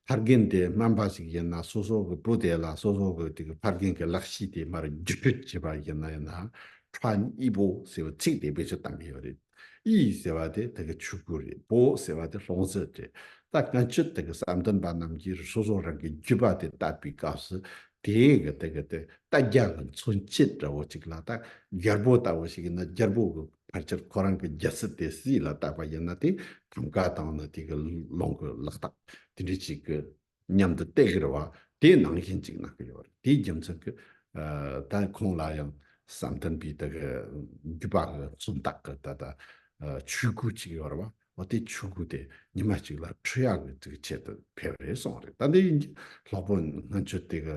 ཕ་རྒན་དེ་སྨན་པ་ཞིག་ཡིན་ན་སོ་སོ་གི་བུ་དེ་ལ་སོ་སོ་གི་ཕ་རྒན་གི་ལག་ཤེས་དེ་མར་བརྒྱུད་སྤྲོད་བྱེད་པ་ཡིན་ན་ཡིན་ན་ཕྲ་གཉིས་པོ་ཟེར་བའི་ཚིག་དེ་བེད་སྤྱོད་བཏང་གི་ཡོད་རེད། ཨི་ཡིག་ཟེར་བ་དེ་ད་གི་ཆུ་ཁུ་རེད་པོ་ཟེར་བ་དེ་སློང་རྩིས་རེད་ད་ག་ཅི་ད་གི་བསམ་དོན་པ་རྣམས་ཀྱིས་རི་སོ་སོ་རང་གི་རྒྱུད་པ་དེ་བཏབ་པའི་སྐབས་སུ་དེའི་གི་ད་གི་དེ་ད་རྒྱ་གི་མཚོན་བྱེད་འདྲ་བོ་ཅིག་ལ་ད་རྒྱལ་པོ་ལྟ་བུ་ཞིག་ཡིན་ན་རྒྱལ་པོ་གི་ཕར་ཆེར་ཁོ་རང་གི་རྒྱལ་སྲིད་དེ་སྲིད་ལ་བཏབ་པ་ཡིན་ན་དེ་གམ་ག་དང་ནི་དེ་གི་སློང་གི་ལག་རྟགས་དེ་འདྲས་ཅིག་གི། མཉམ་དུ་སྟེགས་རེར་བ་དེ་ནང་བཞིན་གཅིག་གནང་གི་ཡོད་རེད་དེའི་རྒྱུ་མཚན་གྱི་ད་ཁོང་ལ་ཡང་བསམ་དོན་པའི་ད་གི་རྒྱུད་པ་གི་མཚོན་རྟགས་གི་ད་ལྟ་ཆོས་གོས་གཅིག་ཡོད་རེད་བ་དེ་ཆོས་གོས་དེ་ཉི་མ་གཅིག་ལ་འཁྲུ་ཡག་གི་ད་གི་ཆེད་དུ་ཕེབས་རེད་གསུངས་རེད་ད་དེ་ཡིན་གྱི་ལྷག་པོ་ང་ཚོས་ད་གི།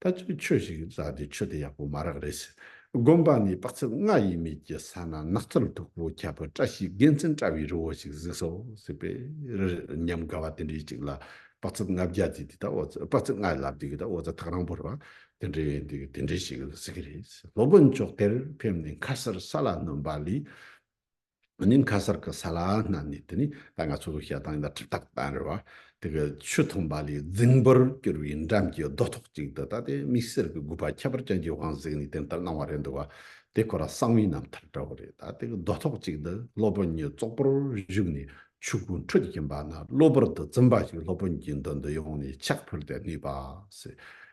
ད་ཚོད་ཆོས་ཞིག་བཟའ་དེ་ཆོས་དེ་ཡག་པོ་མ་རག་རེད་ཟེར། དགོན་པ་ནས་དཔག་ཚད་ལྔ་ཡས་མས་ཀྱི་ས་ན་ནགས་ཚལ་མཐུག་པོ་ཁྱད་པོ་བཀྲ་ཤིས་དགེ་མཚན་བཀྲ་བའི་རི་བོ་ཞིག་གཟིགས་སོ་ཟེར་པས། ཉམས་དགའ་བ་དེ་འདྲའི་ཅིག་ལ་དཔག་ཚད་ལྔ་བརྒྱ་བརྩིས་དེ་དག་དཔག་ཚད་ལྔ་ལ་བརྩིས་དེ་དག་ཐག་རིང་པོར་བ་དེ་འདྲའི་དེ་འདྲའི་ཞིག་གཟིགས་ཀྱི་རེད་ཟེར། ལོ་དགུན་ཕྱོགས་དེར་ཕེབས་ནས་མཁར་སར་ས་ལ་སྣུན་པ་ལས། ནིམ་ཁ་སར་གི་ས་ལ་སྣ་ནས་དེ་ནི་ད་ང་ཚོ་གི་ཤ་དང་ཡང་ཁྲི་ཐག་གཏང་རེ་བ། དེ་གི་ཆུ་འཐུང་བ་ལས་རྫིང་བུར་གྱུར་བའི་འགྲམ་གྱི་རྡོ་ཐོག་ཅིག་ཏུ་ད་ལྟའི་དམིགས་བསལ་གི་དགོས་པ་ཁྱད་པར་ཅན་གྱི་དབང་གཟིགས་ནས་དེ་ལྟར་གནང་བ་རེད་འདུག་བ། དེ་ཁོ་ར་གསང་བའི་རྣམ་ཐར་འདྲ་བོ་རེད་ད་དེ་གི་རྡོ་ཐོག་ཅིག་ཏུ་སློབ་དཔོན་གཉིས་ཙོག་པོར་བཞུགས་ནས་ཆུ་ཁུང་ཁྲོད་ཀྱི་འབག་ན་གློ་བུར་དུ་རྩིམ་པ་ཞིག་སློབ་དཔོན་གྱི་མདུན་དུ་ཡོང་ནས་ཕྱག་ཕུལ་ཏེ་གནས་པ།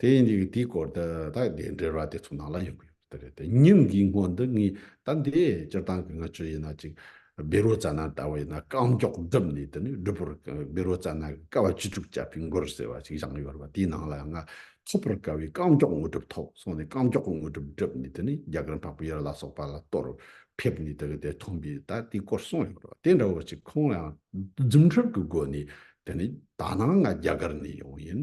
དེ་ཡིན་དུས་དེའི་སྐོར་དུ་ད་གདན་འདྲེ་ར་དེ་ཚོ་ནང་ལ་ཡོང་གི་ཡོད་པ་རེད་དེ། ཉིན་འགའི་སྔོན་དུ་ངས་ད་འདས་སྤྱིར་བཏང་གི་ང་ཆོས་ཡིན་ན་ཅིག་སྦི་རོ་རྩ་ན་ལྟ་བུ་ཡིན་ན་རྐང་མགྱོགས་བརྡིབས་ནས་དེ་ནས་སྦི་རོ་སྦི་རོ་རྩ་ན་ཀ་བ་བཅུ་དྲུག་བཅག་པའི་མགུར་ཟེར་བ་ཞིག་བཞག་ཡོད་པ་དེའི་ནང་ལ་ཡང་ང་ཐོབ་པར་དཀའ་བའི་རྐང་མགྱོགས་དངོས་གྲུབ་ཐོབ་སོང་ནས་རྐང་མགྱོགས་དངོས་གྲུབ་བསྒྲུབས་ནས་དེ་ནས་རྒྱ་གར་འཕགས་པའི་ཡར་ལ་སོགས་པ་ལ་གཏོར་ཕེབས་ནས་དེ་ག་དེ་ཐོན་པས་ད་དེའི་སྐོར་གསུངས་ཡོད་པ་དེ་འདྲ་བོ་ཅིག་ཁོང་ལ་ཡང་རྫུན་ཁྲིམས་ཀྱི་སྒོ་ནས་དེ་ནས་ད་ནངས་ང་རྒྱ་གར་ནས་ཡོང་ཡིན་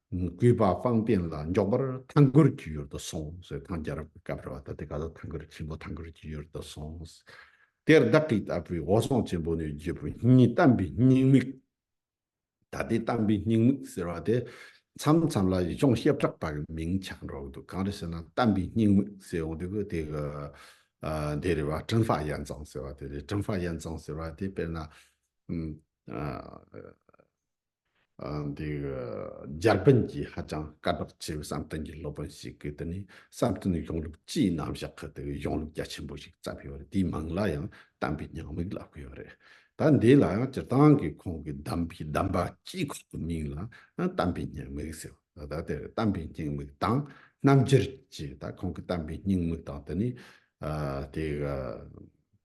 གུས་པ་དཔང་རྟེན་ལ་འཇོག་པར་ཐང་གུར་གྱི་ཡུལ་དུ་སོང་ཟེར་ཐང་རྒྱལ་རབས་ཀྱི་སྐབས་རེད་བ་ད་དེ་ག་ལ་ཐང་གུར་ཆེན་པོ་ཐང་གུར་གྱི་ཡུལ་དུ་སོང་དེར་བདག་གི་ལྟ་བུའི་འོ་ཟོང་ཆེན་པོ་ནི་རྒྱལ་པོ་ཉིད་བལྟམས་པའི་སྙིང་མིག་ད་དེ་བལྟམས་པའི་སྙིང་མིག་ཟེར་བ་དེ་མཚམས་མཚམས་ལ་ཡུལ་ལྗོངས་ཤེལ་བྲག་པ་གི་མིང་ཆགས་འགྲོ་གི་འདུག་གང་རེད་ཟེར་ན་བལྟམས་པའི་སྙིང་མིག་ཟེར་འོང་དུས་དེ་གི་དེ་རེད་བ་ཀྲིན་ཧྥ་ཡན་ཙང་ཟེར་བ་དེ་རེད་ཀྲིན་ཧྥ་ཡན་ཙང་ཟེར་བ་དེ་དཔེར་ན། འདིར་འཇར་པན་གྱི་ཧ་ཅང་དཀའ་གྲགས་ཆེ་བའི་བསམ་གཏན་གྱི་སློབ་དཔོན་ཞིག་གིས་འདི་ནི་བསམ་གཏན་གྱི་གཞུང་ལུགས་སྤྱིའི་རྣམ་བཞག་གི་དེ་བས་གཞུང་ལུགས་རྒྱ་ཆེན་པོ་ཞིག་བརྩམས་ཡོད་རེད་དེའི་མིང་ལ་ཡང་གདམས་པའི་ཉམས་དམིགས་ལབ་གི་ཡོད་རེད་ད་འདི་ལ་ཡང་སྤྱིར་བཏང་གི་ཁོང་གིས་གདམས་པའི་གདམས་པ་སྤྱི་ཁོག་གི་མིང་ལ་གདམས་པའི་ཉེས་དམིགས་ཟེར་རོ་ད་དེར་གདམས་པའི་སྙིང་དམིགས་དང་རྣམ་འགྱུར་གྱི་ད་ཁོང་གིས་གདམས་པའི་སྙིང་དམིགས་དང་དེ་ནི་དེ་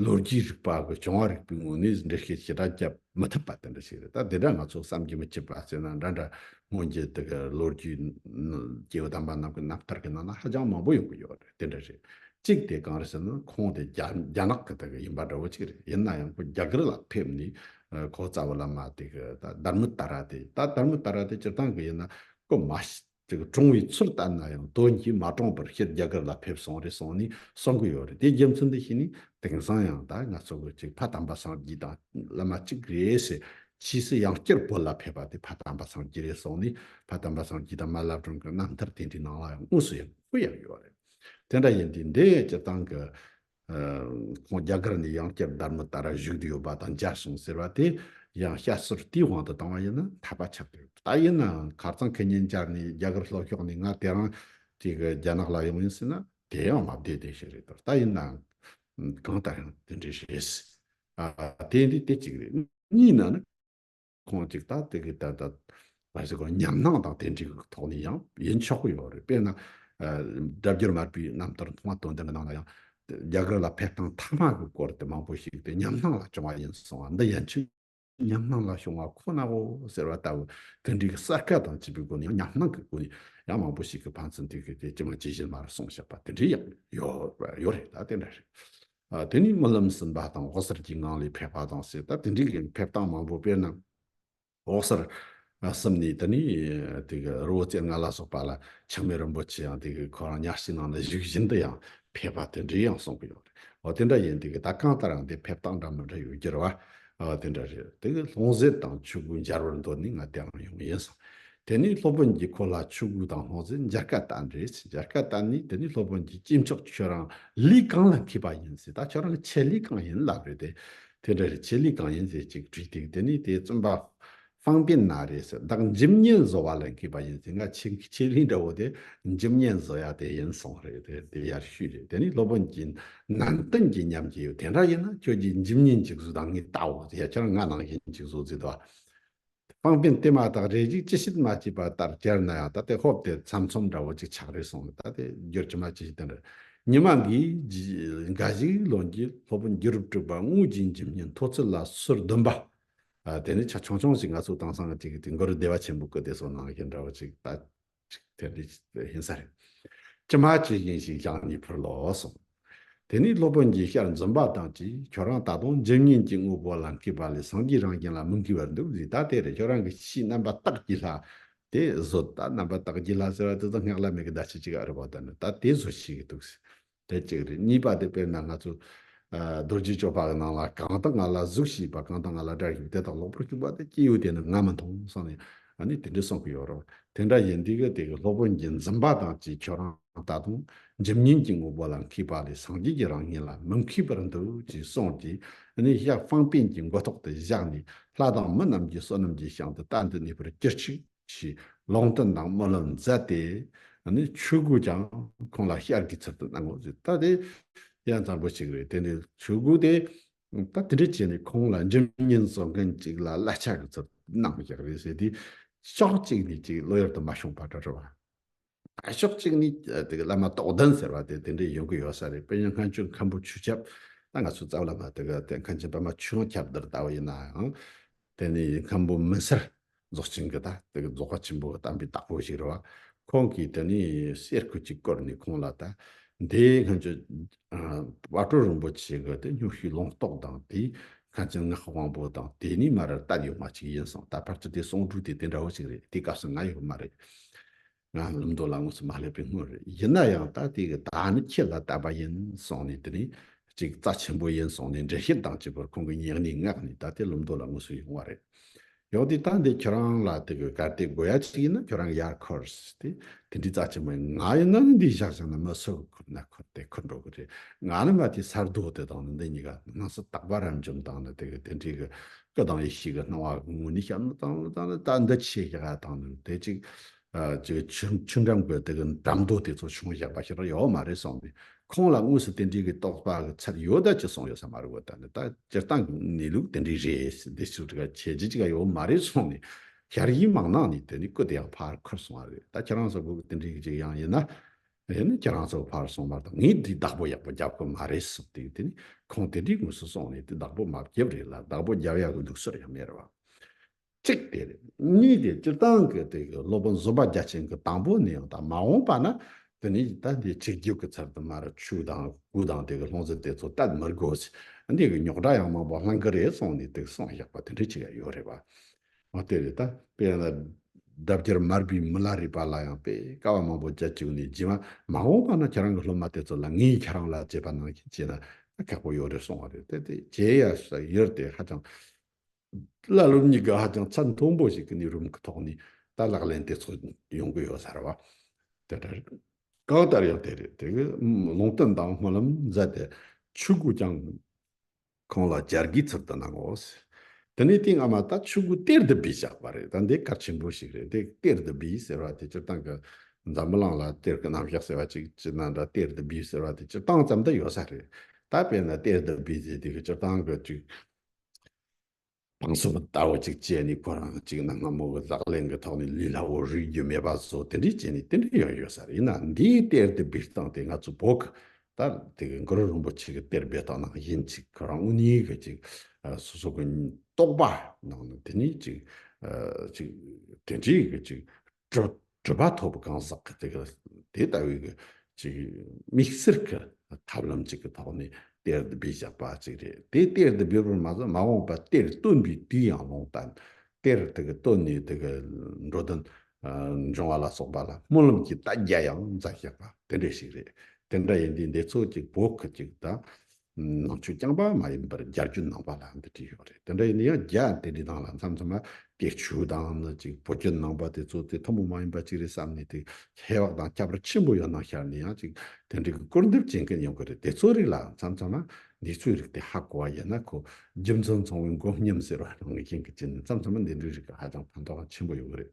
ལོ་རྒྱུས་རིག་པ་དགོས་བྱུང་བ་རིག་པའི་ངོས་ནས་འགྲེལ་བཤད་ཇི་ལྟར་བརྒྱབ་མི་ཐུབ་པ་དེ་འདྲ་ཞིག་རེད་ད་དེ་འདྲ་ང་ཚོ་བསམ་གྱི་མི་ཁྱབ་པ་བརྩེ་ན་འདྲ་འདྲ་སྔོན་གྱི་དེ་གི་ལོ་རྒྱུས་ཀྱི་དམ་པ་རྣམས་ཀྱི་རྣམ་ཐར་གྱི་ནང་ན་ཧ་ཅང་མང་པོ་ཡོང་གི་ཡོད་རེད་དེ་འདྲ་རེད་གཅིག་དེ་གང་རེད་ཟེར་ན་ཁོང་དེ་རྒྱ་ནག་གི་དེ་གི་ཡིན་པ་འདྲ་བོ་གཅིག་རེད་ཡིན་ན་ཡང་ཁོ་རྒྱ་གར་ལ་ཕེབས་ནས་ཁོ་རྩ་བ་བླ་མ་དེ་གི་ད་དར་མི་ད་ར་དེ་ད་དར་མི་ད་ར་དེ་སྤྱིར་བཏང་གི་ཡིན་ན་ཁོ་མ་དེ་གི་གྲོང་བའི་ཚུལ་ལྟར་ན་ཡང་དོན་གྱིས་མ་གྲོངས་པར་ཕྱིར་རྒྱ་གར་ལ་ཕེབས་སོང་རེད་གསུངས་ནས་གསུང་གི་ཡོད་རེད་དེའི་རྒྱུ་མཚན་འདི་ཤེས་ནས་དེང་སང་ཡང་ད་ང་ཚོ་གི་གཅིག་ཕ་དམ་པ་སངས་རྒྱས་དང་བླ་མ་གཅིག་རེད་ཟེར་ཕྱིས་སུ་ཡང་བསྐྱར་བོད་ལ་ཕེབས་པ་དེ་ཕ་དམ་པ་སངས་རྒྱས་རེད་གསུངས་ནས་ཕ་དམ་པ་སངས་རྒྱས་དང་མ་བླ་བྲང་གི་རྣམ་ཐར་དེ་འདྲའི་ནང་ལ་ཡང་དངོས་སུ་ཡང་ཁོ་ཡང་ཡོད་རེད་དེ་འདྲ་ཡིན་དུས་འདི་སྤྱིར་བཏང་གི་ཁོང་རྒྱ་གར་ནས་ཡང་བསྐྱར་སྡར་མ་ད་ར་བཞུགས་འདི་ཡོད་པ་དང་འཇའ་སོང་ཟེར་བ་དེ་ཡང་བཤད་སྲོལ་དེའི་དབང་དུ་བཏང་བ་ཡིན་ན་འཐད་པ་ཆགས་ཀྱི་ད་ཡིན་ནའང་ཁ་རྩང་ཁེ་ཉེན་བཅར་ནས་རྒྱ་གར་ལྷོ་ཕྱོགས་ནས་ང་དེ་རང་གི་རྒྱ་ནག་ལ་ཡོང་ཡིན་ཟེར་ན་དེ་ཡང་མ་བདེ་བདེ་ཞིག་རེད་དོ་ད་ཡིན་ནའང་གང་ལྟར་ཡང་དེ་འདྲའི་རེད། དེ་འདི་དེ་གཅིག་རེད་གཉིས་ན་ནི། ཁོང་ཅིག་ད་དེ་གི་ད་ད་ཉམས་སྣང་དང་དེ་འདྲའི་ཐོག་ནས་ཡང་ཡིན་ཆོག་གི་ཡོད་རེད་དཔེར་ན། སྒྲ་བསྒྱུར་མ་པའི་རྣམ་ཐར་མཐོང་བ་དོན་ལྡན་གྱི་ནང་ལ་ཡང། རྒྱ་གར་ལ་ཕེབས་སྟངས་མཐའ་མ་གི་སྐོར་དེ་མང་པོ་ཞིག་དེ་ཉམས་སྣང་ལ་བྱུང་བ་ཡིན་གསུངས་བ་འདི་ཡན་ཆད་ཉམས་སྣང་ལ་བྱུང་བ་ཁོ་ནའོ་ཟེར་བ་ལྟ་བུ་དེ་འདྲའི་གསལ་བཀད་དང་བྱིས་པའི་སྒོ་ནས་ཡང་ཉམས་སྣང་གི་སྒོ་ནས་ཡང་མང་པོ་ཞིག་གི་ཕན་ཚུན་དེ་གི་དེ་ཅི་མ་ཇི་བཞིན་མར་གསུངས་བཞག་པ་དེ་འདྲའི་ཡང་ཡོད་རེད་ད་དེ་འདྲ་རེད། དེ་ནི་རྨི་ལམ་ཟིན་པ་དང་འོག་སར་གྱི་ངང་ལས་ཕེབས་པ་དང་བསྲེས་ད་དེ་འདྲའི་གན་ཕེབས་སྟངས་མང་པོ་དཔེར་ན། འོག་སར་གསུམ་ནས་ད་ནི་དེ་གི་རི་བོ་རྩེ་ལྔ་ལ་སོགས་པ་ལ་འཆི་མེད་རིན་པོ་ཆེ་ཡང་དེ་གི་ཁོ་རང་ཉག་གཅིག་ནང་ན་བཞུགས་བཞིན་དུ་ཡང་ཕེབས་པ་དེ་འདྲའི་ཡང་གསུང་གི་ཡོད་རེད། འོ་དེ་འདྲ་ཡིན་དེ་གི་ད་གང་ལྟར་ཡང་དེ་ཕེབས་སྟངས་འདྲ་མི་འདྲ་ཡོད་རྒྱུར་བ། དེ་འདྲ་རེད་དེ་གི་ལྷུང་བཟེད་དང་ཆུ་བོའི་འབྱར་བར་འདོད་ནས་ང་དེའང་ཡོང་ཡིན་སོང། དེ་ནི་སློབ་དཔོན་གྱིས་ཁོ་ལ་ཆོས་གོས་དང་སྣོད་ཟན་འཇར་སྐད་བསྟན། རེད་འཇར་སྐད་བསྟན་ནས་དེ་ནི་སློབ་དཔོན་གྱིས་སྐྱེས་མཆོག་ཁྱོད་རང་ལུས་གང་ལ་འཁེལ་པ་ཡིན་ཟེར་ད་ཁྱོད་རང་གི་ཆེད་ལུས་གང་ཡིན་ལབ་རེད་དེ། དེ་འདྲ་རེད་ཆེད་ལུས་གང་ཡིན་ཟེར་ཅིག་དྲིས་དེ་དེ་ནི་དེ་བཙོན་པ་ཧྥང་པིན་ན་རེད་ཟེར་བདག་འཇིམ་བརྙན་བཟོ་བ་ལ་འཁེལ་པ་ཡིན་ཟེར་ང་ཆེད་ཆེད་ལུས་འདྲ་བོ་དེ་འཇིམ་བརྙན་བཟོ་ཡག་དེ་ཡིན་སོང་རེད་དེ་དེ་ཡར་ཞུས་རེད་དེ་ནི་སློབ་དཔོན་གྱིས་ནན་ཏན་གྱིས་མཉམ་གྱི་ཡོད་དེ་འདྲ་ཡིན་ན་ཁྱོད་ཀྱིས་འཇིམ་བརྙན་ཅིག་བཟོས་དང་ངས་བལྟའོ་ཟེར་ཡ་ཁྱོད་རང་ང་ནང་བཞིན་ཅིག་བཟོ་རྩིས་དང། པང་པན་ཏེ་མ་དག་རེ་ཅིག་ཅི་ཞིག་མ་སྐྱེས་པ་ལྟར་གྱར་ན་ཡང་ད་ལྟའི་ཧོབ་དེ་ཚམ་ཚོམ་འདྲ་བོ་ཅིག་ཆགས་རེ་སོང་ད་ལྟའི་རྒྱུར་ཅི་མ་ཅི་ཞིག་དེ་འདྲ་ཉི་མ་འགའི་འགའ་ཞིག་ལོན་གྱི་ལྷོ་པོ་འགྱུར་དྲུག་པ་དངུལ་གྱི་འཇིམ་སྙིང་མཐོ་ཚུལ་ལ་སོར་བདུན་པ། དེ་ནས་ཆ་ཆུང་ཆུང་ཞིག་ང་ཚོ་དང་སངས་རྒྱས་ཀྱི་དུས་འགོར་བདེ་བ་ཆེན་པོ་སྐུ་དེ་སོགས་ནང་གི་འདྲ་བོ་ཅིག་ད། དེ་ནི་ཧིན་ས་རེད། ཅི་མ་ཅི་ཡིན་ཞིག་བཞག་ནས་ཕུར་ལོ་གསུངས། དེ་ནས་སློབ་དཔོན་གྱིས་ཤར་འཛུམ་པ་དང་བཅས་ཁྱོད་རང་ད་དུང་འཇིམ་བརྙན་གྱི་དངོས་པོ་ལ་འཁེལ་བ་ལས་སངས་རྒྱས་རང་བཞིན་ལ་མི་འཁེལ་བར་འདུག་རིགས་ད་དེར་ཁྱོད་རང་གི་ཕྱིའི་རྣམ་པ་རྟགས་ཀྱི་ལྷ། དེ་བཟོ་ད་རྣམ་པ་རྟགས་ཀྱི་ལྷ་ཟེར་བ་དེ་ཚོ་སྔགས་ལ་མེད་ཀི་ཟླ་ཕྱེད་ཅིག་ཨ་རི་བ་དང་ནི་ད་དེ་བཟོ་བྱེད་ཀི་འདུག་ཟེར། དེ་གཅིག་རེད་གཉིས་པ་དེ་དཔེར་ན་ང་ཚོ། རྡོ་རྗེ་ཅོ་པག་གི་ནང་ལ་གང་དག་ང་ལ་གཟུགས་ཤིས་པ་གང་དག་ང་ལ་སྒྲ་ཤིས་པ་དེ་དག་ལོག་པར་བཅུག་པ་དེ་སྐྱེས་བུ་དེ་ནི་ང་མི་མཐོང་བསམ་ནས་ཨ་ནི་དེ་འདྲས་གསུངས་ཀྱི་ཡོད་རོགས་དེ་འདྲ་ཡིན་དུས་ཀྱི་དེ་གི་སློབ་དཔོན་གྱི་འཛིན་པ་དང་བཅས་ཁྱོད་རང་ད་དུང་འཇིམ་སྙིང་གི་དངོས་པོ་ལ་མཁས་པ་ལས་སངས་རྒྱས་ཀྱི་རང་བཞིན་ལ་མི་མཁས་པར་འདུག་ཅེས་གསུངས་ཀྱིས་ཨ་ནི་ཤ་ཧྥང་པན་གྱི་མགོ་ཐོག་ཏུ་བཞག་ནས་ལྷ་དང་མི་རྣམས་ཀྱི་བསོད་ནམས་ཀྱི་ཤང་དུ་རྟ་འདི་གནས་པར་གྱུར་ཅིག། ཞེས་ལོང་སྟོན་དང་སྨོན་ལམ་མཛད་དེ། ཆོས་གོས་ཀྱང་ཁོང་ལ་ཤར་གྱི་ཚུལ་དུ་གནང་ངོ། ད་དེ་ཡང་བཟང་པོ་ཞིག་རེད་དེ་ནས་ཆོས་གོས་དེ་ད་དེ་འདྲ་བྱས་ནས་ཁོང་ལ་འཇིམ་བརྙན་བཟོ་མཁན་ཅིག་ལ་གླ་ཆ་གི་ཚུལ་དུ་གནང་ཞག་རེ་ཟེར་དུས་ཤོག་ཅིག་ནས་ཅིག་བློ་ཡུལ་དུ་མ་ཤོང་པ་འདྲ་བ། ཕྱོགས་གཅིག་ནི་དེ་གི་བླ་མ་རྟོགས་ལྡན་ཟེར་བ་དེ་དེ་འདྲའི་ཡོང་གི་ཡོད་ས་རེད་དཔེ་ཉོ་མཁན་ཆུ་མཁན་པོ་ཆུ་ཁྱབ་ད་ང་ཚོ་རྩ་བ་ལ་མ་དེ་གི་དེ་མཁན་ཆེན་པད་མ་ཆུ་ཡང་ཁྱབ་དེར་ལྟ་བ་ཡིན་ནའང། དེ་ནི་ཡིན་མཁན་པོ་མི་སེར་རྫོགས་ཆེན་གི་ད་དེ་གི་རྫོགས་པ་ཆེན་པོ་བལྟམས་པའི་བདག་པོ་ཞིག་རེད་བ། ཁོང་གིས་དེ་ནི་གསེར་ཁུ་ཅིག་བསྐོར་ནས་ཁོང་ལ་ད་དེ་མཁན་ཆེན་བ་སྤྲུལ་རིན་པོ་ཆེ་གི་དེ་སྙུག་ཤུལ་ལོངས་རྟོགས་དང་དེའི་མཁན་ཆེན་ངག་དབང་པོ་དང་དེ་གཉིས་མ་རེར་སྟབས་ཡོད་མ་ཅིག་ཡིན་སོང་ད་ཕར་ཚུར་དེ་གསུང་སྒྲུག་དེ་དེ་འདྲ་བོ་ཞིག་རེད་དེའི་སྐབས་སུ་ང་ཡོད་མ་རེད། ང་ལུང་མདོ་ལ་དངོས་སུ་མ་སླེབས་པའི་སྔོན་རེད་ཡིན་ན་ཡང་ད་ལྟའི་གི་ད་ནི་ཁྱེད་ལ་བལྟ་བ་ཡིན་གསུངས་ནས་དེ་ནས་ཅིག་རྩ་ཆེན་པོ་ཡིན་གསུངས་ནས་འགྲེལ་བཤད་དང་བཅས་པར་ཁོང་གི་སྙིང་ནས་བསྔགས་ནས་ད་ལྟའི་ལུང་མདོ་ལ་དངོས་སུ་ཡོང་བ་རེད་ཡོང་དུས་ད་འདི་ཁྱོད་རང་ལ་དེ་གི་གར་སྟེགས་དགོས་ཡ་ཅིག་ཡིན་ན་ཁྱོད་རང་ཡར་འཁོར་ཟེར་ཏེ་དེ་འདྲའི་རྩ་ཆེན་པོ་ཡིན་ང་ཡིན་ན་ནི་འདི་བཞག་ཅིག་ན་མི་སུ་འཁོར་ན་འཁོར་དེ་འཁོར་འགྲོ་གི་རེད་ང་ནི་མ་དེའི་སར་རྡོ་དེ་དང་ནི་འདི་གཉིས་ཀ་སྣང་སྲིད་རྟག་པ་རབ་འབྱམས་དང་ནི་དེ་གི་དེ་འདྲའི་གི་སྐད་དང་ཡེ་ཤེས་ཀྱི་སྣང་བ་ཀུན་ངོ་ནི་ཤར་ནུབ་དང་ལྷོ་དང་ནི་ལྟ་འདི་ཕྱེད་བཞག་ཡང་དང་ནི་དེ་གཅིག། ཆུ་འགྲམ་གྱི་དེ་གི་འགྲམ་རྡོ་དེ་ཚོ་ཆུང་བཞག་པ་ཞིག་རག་ཡོའོ་མ་རེད་སོང་ནི་ཁོང་ལ་དངོས་སུ་དེ་འདྲའི་གི་རྟོགས་པ་གི་ཚད་ཡོད་ད་ཅི་སོང་ཡོད་ས་མ་རེད་གོ་ད་ནི་ད་སྤྱིར་བཏང་གི་གནས་ལུགས་དེ་འདྲའི་རེད་ཟེར་འདི་སུ་གྲི་ག་ཁྱེད་ཀྱིས་ཅི་ག་ཡོའོ་མ་རེད་སོང་ནི་ཞར་ཡིག་མང་ནང་ནི་དེ་ནི་བཀོད་དེ་ཡང་ཕར་འཁོར་སོང་བ་རེད་ད་ཁྱེད་རང་ཚོ་གི་དེ་འདྲའི་གི་ཅིག་ཡང་ཡིན་ན་དེ་ནི་ཁྱེད་རང་ཚོ་ཕར་སོང་བར་དུ་ངས་འདིའི་བདག་པོ་ཡག་པོ་རྒྱབ་ཁོ་མ་རེད་ཟེར་དུས་དེ་ནི་ཁོང་དེ་འདྲའི་ངོས་སུ་སོང་ནས་དེ་བདག་པོ་མ་བརྒྱབ་རེད་ལ་བདག་པོ་རྒྱབ་ཡག་གི་འདུག་ཟེར་ཡང་མེད་རེད་བ། གཅིག་དེ་རེད། གཉིས་དེ་སྤྱིར་བཏང་གི་དེ་གི་སློབ་དཔོན་བཟོ་པ་རྒྱ་ཆེན་གི་དང་པོ་ནས་ཡང་དག་མ་འོངས་པ་ན་དེ་ནི་ད་འདི་ཆིག་རྒྱུག་གི་ཚར་དུ་མ་རེད་ཆུ་དང་སྐུ་དང་དེ་གི་ལྷུང་བཟེད་དེ་ཚོ་ད་མི་དགོས། འདི་གི་ཉོག་དྲ་ཡང་མང་པོ་ལྷང་ཀི་རེད་སོང་ནས་དེ་གི་སོང་ཡག་པ་དེ་འདྲ་ཆི་ཡག་ཡོད་རེད་བ། ཨོ་དེ་རེད་ད། དཔེ་ཡང་ལ། འདབ་རྒྱར་མར་བུའི་མི་ལ་རིས་པ་ལ་ཡང་དཔེ་ཀ་བ་མང་པོ་རྒྱ་བཅུག་ནས་བགྱིས་མ་མ་འོངས་པ་ན་ཁྱེད་རང་གི་སློབ་མ་དེ་ཚོ་ལ་ངས་ཁྱེད་རང་ལ་དཔྱད་པ་གནང་ཞིག་བྱས་ན་ཁག་པོ་ཡོད་རེད་གསུངས་བ་རེད་དེ་དེ་རྗེས་ཡར་ས་ཡོད་དེ་ཧ་ཅང། བླ་སློབ་གཉིས་ཀ་ཧ་ཅང་ཚད་མཐོན་པོ་ཞིག་གི་གནས་རུམ་གི་ཐོག་ནས་ད་ལག་ལེན་དེ་ཚོ་ཡོང་གི་ཡོད་ཟེར་བ། དེ་འདྲ་རེད། གང་ལྟར་ཡང་དེ་རེད་དེ། ལུང་བསྟན་དང་སྨོན་ལམ་མཛད་དེ་ཆོས་གོས་ཀྱང། ཁོང་ལ་སྦྱར་གྱི་ཚུལ་དུ་གནང་ངོ། དེ་ནས་དེའི་སྔ་མ་ད་ཆུ་གུ་གཏེར་བདུད་བུས་བཞག་པ་རེད་ད་འདི་གར་ཆེན་པོ་ཞིག་རེད་དེ་གཏེར་བདུད་བུས་ཟེར་བ་དེ་སྤྱིར་བཏང་གི་འཛམ་བུ་གླང་ལ་གཏེར་གྱི་རྣམ་གཞག་ཟེར་བ་ཅིག་ཅི་ན་འདྲ་གཏེར་བདུད་བུས་ཟེར་བ་དེ་སྤྱིར་བཏང་ཙམ་དུ་ཡོད་ས་རེད་ད་དཔེར་ན་གཏེར་བདུད་བུས་ཟེར་དུས་སྤྱིར་བཏང་གི་དུས། དང་གསུམ་པོ་ལྟ་བ་གཅིག་བཅས་ནི་ཁོ་རང་གཅིག་ན་སྔ་མོ་གི་ལག་ལེན་གྱི་ཐོག་ནས་ལུས་ལ་འོ་རུས་རྒྱུ་མེད་པ་བཟོ་དེ་འདྲའི་རྐྱེན་ནི་དེ་འདྲ་ཡང་ཡོད་ས་རེད་ཡིན་ན་འདིའི་གཏེར་དེ་སྦིར་བཏང་སྟེ་ང་ཚོ་བོད་ཁུལ་ལྟར་དེ་གའི་མགུར་རིན་པོ་ཆེ་གི་གཏེར་སྦིར་བཏང་ན་ཡིན་གཅིག་ཁོ་རང་དབུ་གཉིས་གི་གཅིག་སོ་སོ་གི་རྟོགས་པ་ནང་ནས་དེ་ནི་གཅིག་གཅིག་དེ་འདྲའི་གཅིག་སྤྲོས་པ་ཐོབ་པ་གང་ཟག་གི་དེ་ལྟ་བུའི་དམིགས་བསལ་གྱི་ཐབས་ལམ་ཅིག་གི་ཐོག་ནས་གཏེར་འདི་སྦས་བཞག་པ་ཅིག་རེད་དེ་གཏེར་འདི་སྦས་པར་མ་ཟད་མ་འོངས་པར་གཏེར་བཏོན་པའི་དུས་ཡང་ལོང་སྟངས་གཏེར་དེ་ག་བཏོན་ནས་དེ་ག་འགྲོ་དོན་འབྱུང་བ་ལ་སོགས་པ་ལ་སྨོན་ལམ་གྱི་རྟ་རྒྱ་ཡང་འཛག་བཞག་པ་དེ་འདྲ་ཞིག་རེད་དེ་འདྲ་ཡིན་དུས་འདི་ཚོ་གཅིག་བོད་ཁུལ་གཅིག་དང། ནང་ཆོས་རྐྱང་པ་མ་ཡིན་པར་རྒྱ་རྒྱུད་ནང་པ་ལ་འདི་བྲིས་ཡོད་རེད་དེ་འདྲ་ཡིན་ན་ཡང་རྒྱ་དེ་འདྲའི་ནང་ལ་མཚམས་མཚམས་ལ་དགེ་ཆོས་དང་ནི་ཅིག་བོད་རྒྱུད་ནང་པ་དེ་ཚོ་དེ་ཐུན་མོང་མ་ཡིན་པ་ཅིག་རེད་བསམ་ནས་དེ་ཧེ་བག་དང་ཁྱབ་པར་ཆེན་པོ་ཡོད་ནང་ཤར་ནས་ཡང་ཅིག་དེ་འདྲའི་གི་སྐུར་འདེབས་བྱེད་མཁན་ཡོང་གི་རེད་དེ་ཚོའི་རིགས་ལ་མཚམས་མཚམས་ལ་འདི་ཚོའི་རིགས་དེ་ཧ་གོ་བ་ཡིན་ན་ཁོ་རྒྱུ་མཚན་ཚང་བའི་མགོ་བསྙེམས་ཟེར་བ་ནང་བཞིན་གྱི་ཅི་ནས་མཚམས་མཚམས་ལ་འདི་འདྲའི་རིགས་ཧ་ཅང་ཕན་ཐོག་ཆེན་པོ་ཡོང་གི་རེད།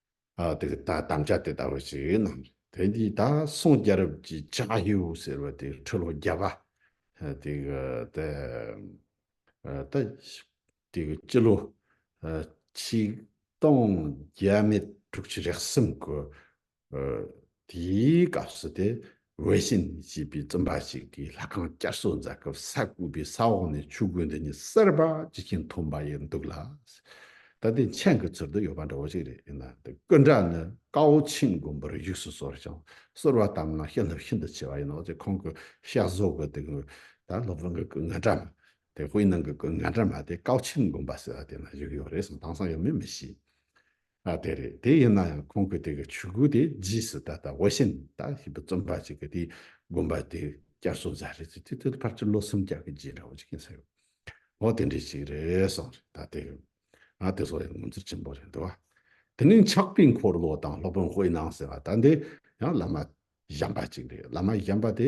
དེ་ལྟ་དམ་བཅའ་དེ་ལྟ་བུ་ཞིག་གནང། དེ་འདི་ད་སོང་རྒྱལ་རབས་ཀྱི་ཅཱ་ཧེའུ་ཟེར་བ་དེ་ཁྲི་ལོ་བརྒྱད་པ། དེ་གི་ད་ད་དེ་གི་སྤྱི་ལོ་ཆིག་སྟོང་བརྒྱད་མེད་དྲུག་ཅུ་རེག་གསུམ་གི་དེའི་སྐབས་སུ་དེ་ཝེ་ཤིན་ཞེས་པའི་བཙུན་པ་ཞིག་གིས་ལྷ་ཁང་བསྐྱར་གསོ་མཛད་སྐབས་ས་བརྐོས་པའི་ས་འོག་ནས་ཆུ་རྒོད་འདི་ཉིད་གསེར་བ་ཇི་བཞིན་འཐོན་པ་ཡིན་འདུག་ལ། ད་ལྟའི་མཆན་གྱི་ཚུལ་དུ་ཡོད་པ་འདྲ་བོ་ཞིག་རེད་ཡིན་ནའང་དེ་ཀུན་སྒྲ་ནི་ཀའོ་ཆིན་དགོན་པར་བཞུགས་སུ་གསོལ་ཞིང་གསོལ་བ་ལྟ་མང་ཤེས་རྣམ་ཤིན་ཏུ་ཆེ་བ་ཡིན་ནོ་ཅེས་ཁོང་གི་བཤད་བཟོ་གི་དེ་སྔོན་ད་སློབ་དཔོན་གྱི་སྐུ་ངལ་འདྲ་མ་དེ་དཔེའི་ནང་གི་སྐུ་ངལ་འདྲ་མ་དེ་ཀའོ་ཆིན་དགོན་པ་ཟེར་བ་དེ་ན་བཞུགས་ཡོད་རེད་གསུངས་དེང་སང་ཡོད་མེད་མི་ཤེས། ཨ་དེ་རེད་དེ་ཡིན་ན་ཡང་ཁོང་གི་དེ་གི་ཆོས་གོས་དེ་རྗེས་སུ་ད་ལྟ་འོ་ཤིན་ད་ཞིག་པ་རྩོམ་པ་ཅིག་གི་དེ་དགོན་པ་དེ་བསྐྱར་གསོ་མཛད་རེད་ཅེས་དེ་དུས་ཕར་ཆུ་ལོ་སུམ་བརྒྱ་གི་རྗེས་འདྲ་བོ་ཅིག་ཡིན་ས་ཡོད། འོ་དེ་འདྲས་ཅིག་རེད་གསུངས་རེད་ད་དེ་གི། ཨ་དེ་སོགས་ཡང་ངོ་མཚར་ཆེན་པོ་རེད་འདུག་དེ་ནས་འཆག་པའི་འཁོར་ལོ་དང་སློབ་དཔོན་དཔེ་སྣང་ཟེར་བ་ད་འདི་ཡང་བླ་མ་གཞན་པ་ཅིག་རེད་བླ་མ་གཞན་པ་དེ་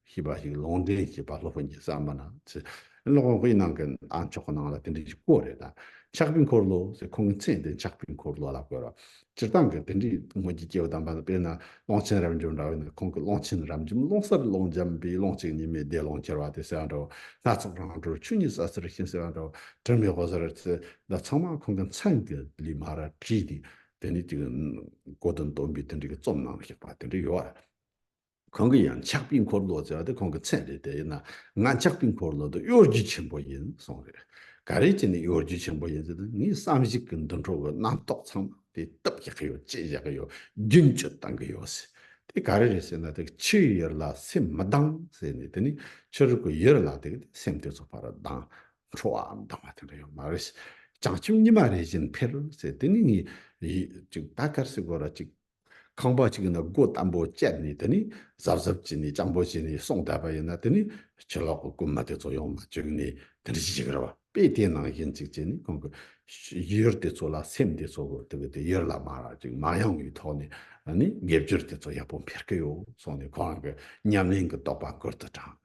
ཞེས་པ་ཞིག་ལུང་བསྟན་བྱས་པ་སློབ་དཔོན་གྱིས་བསམ་པ་ན་ཚེ་སློབ་དཔོན་དབུས་གནང་གི་ཨ་མཆོག་གི་ནང་ལ་དེ་འདྲའི་ཞིག་བཀོད་རེད་ད། ཕྱག་དཔེ་འཁོར་ལོ་ཞེས་ཁོང་གི་མཚན་དེ་ཕྱག་དཔེ་འཁོར་ལོ་ལ་བཀོད་རོགས། སྤྱིར་བཏང་གི་དེ་འདྲའི་དངོས་ཀྱི་སྐྱེ་བོ་དམ་པ་ནི་དཔེར་ན་ཀློང་ཆེན་རབ་འབྱམས་འདྲ་བས་ན་ཁོང་གི་ཀློང་ཆེན་རབ་འབྱམས་ཀློང་གསར་ཀློང་འཇམ་པའི་ཀློང་གཅིག་ཉི་མའི་བདེ་ཀློང་ཁྱེར་བ་དེ་ཟེར་བ་འདྲ་བོ་སྣ་ཚོགས་རང་གྲོལ་ཆོས་ཉིད་ཟ་ཟིར་ཤིང་ཟེར་བ་འདྲ་བོ་དྲི་མེད་ཧོ་ཟེར་བ་ཚེ་འདི་ཚང་མ་ཁོང་གི་མཚན་གྱི་ལི་མ་ར་བྲིས་ཏེ་དེ་འདྲའི་ཅིག་གོ་དོན་སྟོན་པའི་དེ་འདྲའི་གི་རྩོམ་གནང་བཞག་པ་དེ་འདྲའི་ཡོད་རེད། ཁོང་གིས་ཡང་ཆགས་པའི་འཁོར་ལོ་ཟེར་བ་དེ་ཁོང་གི་མཚན་རེད་དེ་ཡིན་ན་ང་ཆགས་པའི་འཁོར་ལོ་དེ་གཡོ་སྒྱུ་ཆེན་པོ་ཡིན་གསུངས་རེད། ག་རེ་བྱས་ནས་གཡོ་སྒྱུ་ཆེན་པོ་ཡིན་ཟེར་དུས་ངའི་བསམ་གཞིག་གི་འདུ་འཕྲོ་བའི་རྣམ་རྟོག་ཚང་མ་དེ་བཏུབ་བཞག་གི་ཡོད་བཅད་བཞག་གི་ཡོད་རྒྱུན་སྤྱོད་བཏང་གི་ཡོད་ཟེར། དེ་ག་རེ་རེད་ཟེར་ན་དེ་ཕྱིའི་ཡུལ་ལ་སེམས་མི་གདང་ཟེར་ནས་དེ་ནི་ཕྱི་རོལ་གྱི་ཡུལ་ལ་དེ་སེམས་དེ་ཚོ་ཕར་གདང་འཕྲོ་བའམ་གདང་བ་དེ་འདྲ་ཡོད་མ་རེད། བྱང་ཆུབ་ཉི་མ་རེ་བཞིན་འཕེལ་ཟེར་དེ་ནི་ངའི་ཡིད་ཅིག་ད་གར་སི་གོ་ར་ཅིག་ཁང་པ་གཅིག་ན་སྒོ་དམ་པོ་བཅད་ནས་དེ་ནས་གཟབ་གཟབ་བྱས་ནས་སྤྱང་པོ་བྱས་ནས་སོང་བསྡད་པ་ཡིན་ན་དེ་ནས་ཕྱི་ལོག་གི་རྐུན་མ་དེ་ཚོ་ཡོང་ན་བཅོམ་ནས་དེ་འདྲ་བྱེད་ཀྱི་རེད་བ་དཔེ་དེའི་ནང་ཡིན་ཅིག་བྱས་ནས་ཁོང་གི་ཡུལ་དེ་ཚོ་ལ་སེམས་དེ་ཚོ་དེ་གི་དེ་ཡུལ་ལ་མ་རག་ཅིག་མ་ཡོང་བའི་ཐོག་ནས་ནས་དགེ་སྦྱོར་དེ་ཚོ་ཡག་པོ་འཕེར་གྱི་ཡོད་སོང་ནས་ཁོ་རང་གི་ཉམས་ལེན་གི་རྟོགས་པ་མགུར་དུ་དྲངས།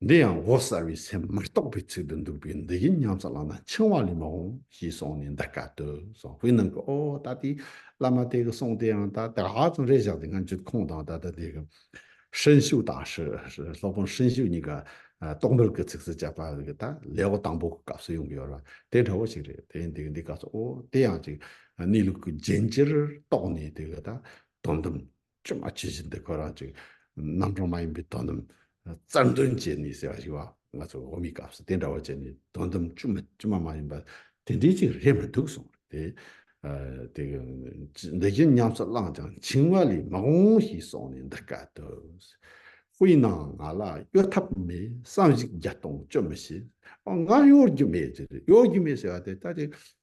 འདི་ཡང་མགོ་གསར་བའི་སེམས་མི་རྟོག་པའི་ཚིག་ཏུ་འདུག་པས་འདི་ཡིན་སྙམ་བསམ་ལགས་ན་འཆིང་བ་ལས་མ་འོངས་ཞེས་གསུངས་ནས་འདི་སྐད་དུ་གསུངས་དཔེ་ནང་གི་ཨོ་ད་ལྟའི་བླ་མ་དེ་གི་གསུངས་དེའང་ད་དེ་ཧ་ཅང་རེ་བཞག་དེ་སྔ་འཇུད་ཁོང་དང་ད་ལྟ་དེ་གི་ཧྲིན་ཞུ་དང་སློབ་དཔོན་ཧྲིན་ཞུ་གཉིས་ཀ་རྟོག་འགྲུལ་གྱི་ཚིག་སུ་བཅད་པ་དེ་ད་ལེ་བ་དང་པོ་གི་སྐབས་སུ་ཡོང་གི་ཡོད་ར་དེ་འདྲ་བོ་ཞིག་རེད་དེ་ཡིན་དེ་གི་འདི་སྐད་གསུངས་ཨོ་དེ་ཡང་ཅིག་གནས་ལུགས་ཀྱི་རྒྱན་ཅིར་རྟོགས་ནས་དེ་གི་ད་དོན་དམ་ཅུང་མ་ཇི་བཞིན་དུ་ཁོ་རང་གཅིག་རྣམ་གྲངས་མ་ཡིན་པའི་དོན་དམ་རྩར་འདོན་བྱས་ནས་ཟེར་བ་ཞིག་བ་ང་ཚོ་འོག་མའི་སྐབས་སུ་དེ་འདྲ་བ་བྱས་ནས་དོན་དམ་ཅུང་མ་ཅི་མ་མ་ཡིན་པ་དེ་འདྲའི་ཅིག་རེད་མི་འདུག་གསུངས་རེད་དེ། དེ་འདི་བཞིན་ཉམས་སུ་བླངས་ཀྱང་འཆིང་བ་ལས་མི་འོང་ཞེས་གསུངས་ནས་འདི་སྐད་དུ། དཔེའི་ནང་ང་ལ་གཡོ་ཐབས་མེད་བསམ་གཞིགས་བརྒྱ་སྟོང་བཅོས་མི་ཤེས། ང་གཡོ་རྒྱུ་མེད་ཅེས་གཡོ་རྒྱུ་མེད་ཟེར་བ་དེ་ལྟ་ཅི་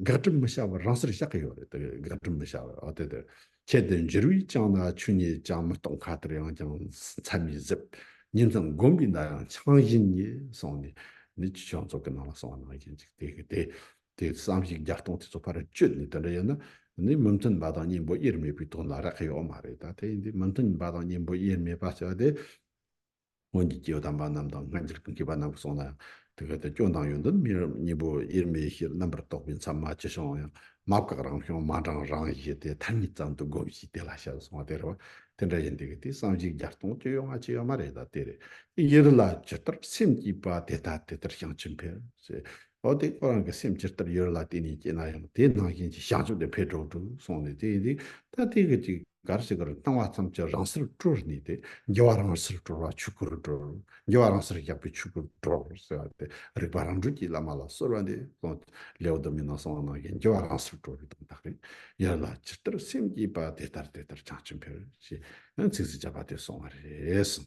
དགག་སྒྲུབ་མི་བྱ་བར་རང་སར་བཞག་གི་ཡོད་རེད་དེ་དགག་སྒྲུབ་མི་བྱ་བར་ཨོ་དེ་དེ། ཁྱེད་དེ་འཇུར་བས་བཅངས་ན་ཆུ་ཉིད་ཅང་མི་གཏོང་ཁ་དར་ཡང་ཅང་མཚན་མི་གཟིགས། ཉིན་ཙམ་བསྒོམས་པའི་མདའ་ཡང་ཆང་བཞིན་ཉིད་སོང་ནས་ནི་ཅི་བྱུང་ཚོགས་ཀྱི་ནང་ལ་སོང་བ་ནང་བཞིན་གཅིག་དེ་གི་དེ། དེ་བསམ་གཞིག་བརྒྱ་སྟོང་དེ་ཚོ་ཕར་བཅོས་ནས་དེ་འདྲ་ཡིན་ན་ནི་མི་མཐུན་པ་དང་གཉེན་པོ་དབྱེར་མེད་པའི་དོན་ལ་རག་གི་ཡོད་མ་རེད་ད་དེ་ཡིན་དུས་མི་མཐུན་པ་དང་གཉེན་པོ་དབྱེར་མེད་པ་བྱ་བ་དེ། སྔོན་གྱི་སྐྱེ་བོ་དམ་པ་རྣམས་དང་སྔ་འགྱུར་གྱི་མཁས་པ་རྣམས་ཀྱིས་གསུངས་ན་ཡང་དེ་ག་དུས་སྐྱོན་དང་ཡོན་ཏན་མི་རབས་གཉིས་པོ་དབྱེར་མེད་ཞེས་རྣམ་པར་རྟོག་པའི་མཚམས་མ་ཅི་བྱུང་བ་ཡང་མ་བཀག་རང་བྱུང་མ་འབྲང་རང་བཞིན་དེ་མཐར་ཉིད་ཙམ་དུ་སྒོམས་ཤིག་དེ་ལ་བཤད་གསུང་བ་དེ་རེད་བ་དེ་འདྲ་ཡིན་དེ་ག་དུས་བསམ་གཞིག་བརྒྱ་སྟོང་བཅུ་ཡོད་ལྔ་བཅུ་ཡོད་མ་རེད་ད་དེ་རེད་དབྱེར་ལ་ཇི་ལྟར་སེམས་བསྐྱེད་པ་དེ་ལྟར་དེ་ལྟར་བྱང་ཆུབ་འཕེལ་ཞེས་ལོ་དེ་ཁོ་རང་གི་སེམས་ཇི་ལྟར་ཡོད་རེད་ལ་བལྟས་ནས་སྐྱེས་ན་ཡང་དེའི་ནང་བཞིན་གྱི་བྱང་ཆུབ་དེ་འཕེལ་འགྲོ་འགྲོ་སོང་ནས་དེ་ཡིན་དུས་ད་ལྟའི་གི་ཅིག་གར་ཞིག་གིར་བཏང་བ་ཙམ་གྱིས་རང་སར་བཀྲོལ་ནས་དེ་འགྱུ་བ་རང་སར་བཀྲོལ་བ་ཆུ་ཁུར་བཀྲོལ་འགྱུ་བ་རང་སར་བཞག་པས་ཆུ་ཁུར་བཀྲོལ་ཟེར་བ་དེ་རིག་པ་རང་གྲོལ་གྱི་བླ་མ་ལ་གསོལ་བ་འདེབས་སོང་ལེའུ་དུ་མའི་ནང་གསང་བ་ནང་བཞིན་འགྱུ་བ་རང་སར་བཀྲོལ་བའི་དོན་དག་རེད་ཡོད་རེད་ལ་ཇི་ལྟར་སེམས་བསྐྱེད་པ་དེ་ལྟར་དེ་ལྟར་བྱང་ཆུབ་འཕེལ་ཞེས་ཚིགས་སུ་བཅད་པ་དེ་སོང་བ་རེད།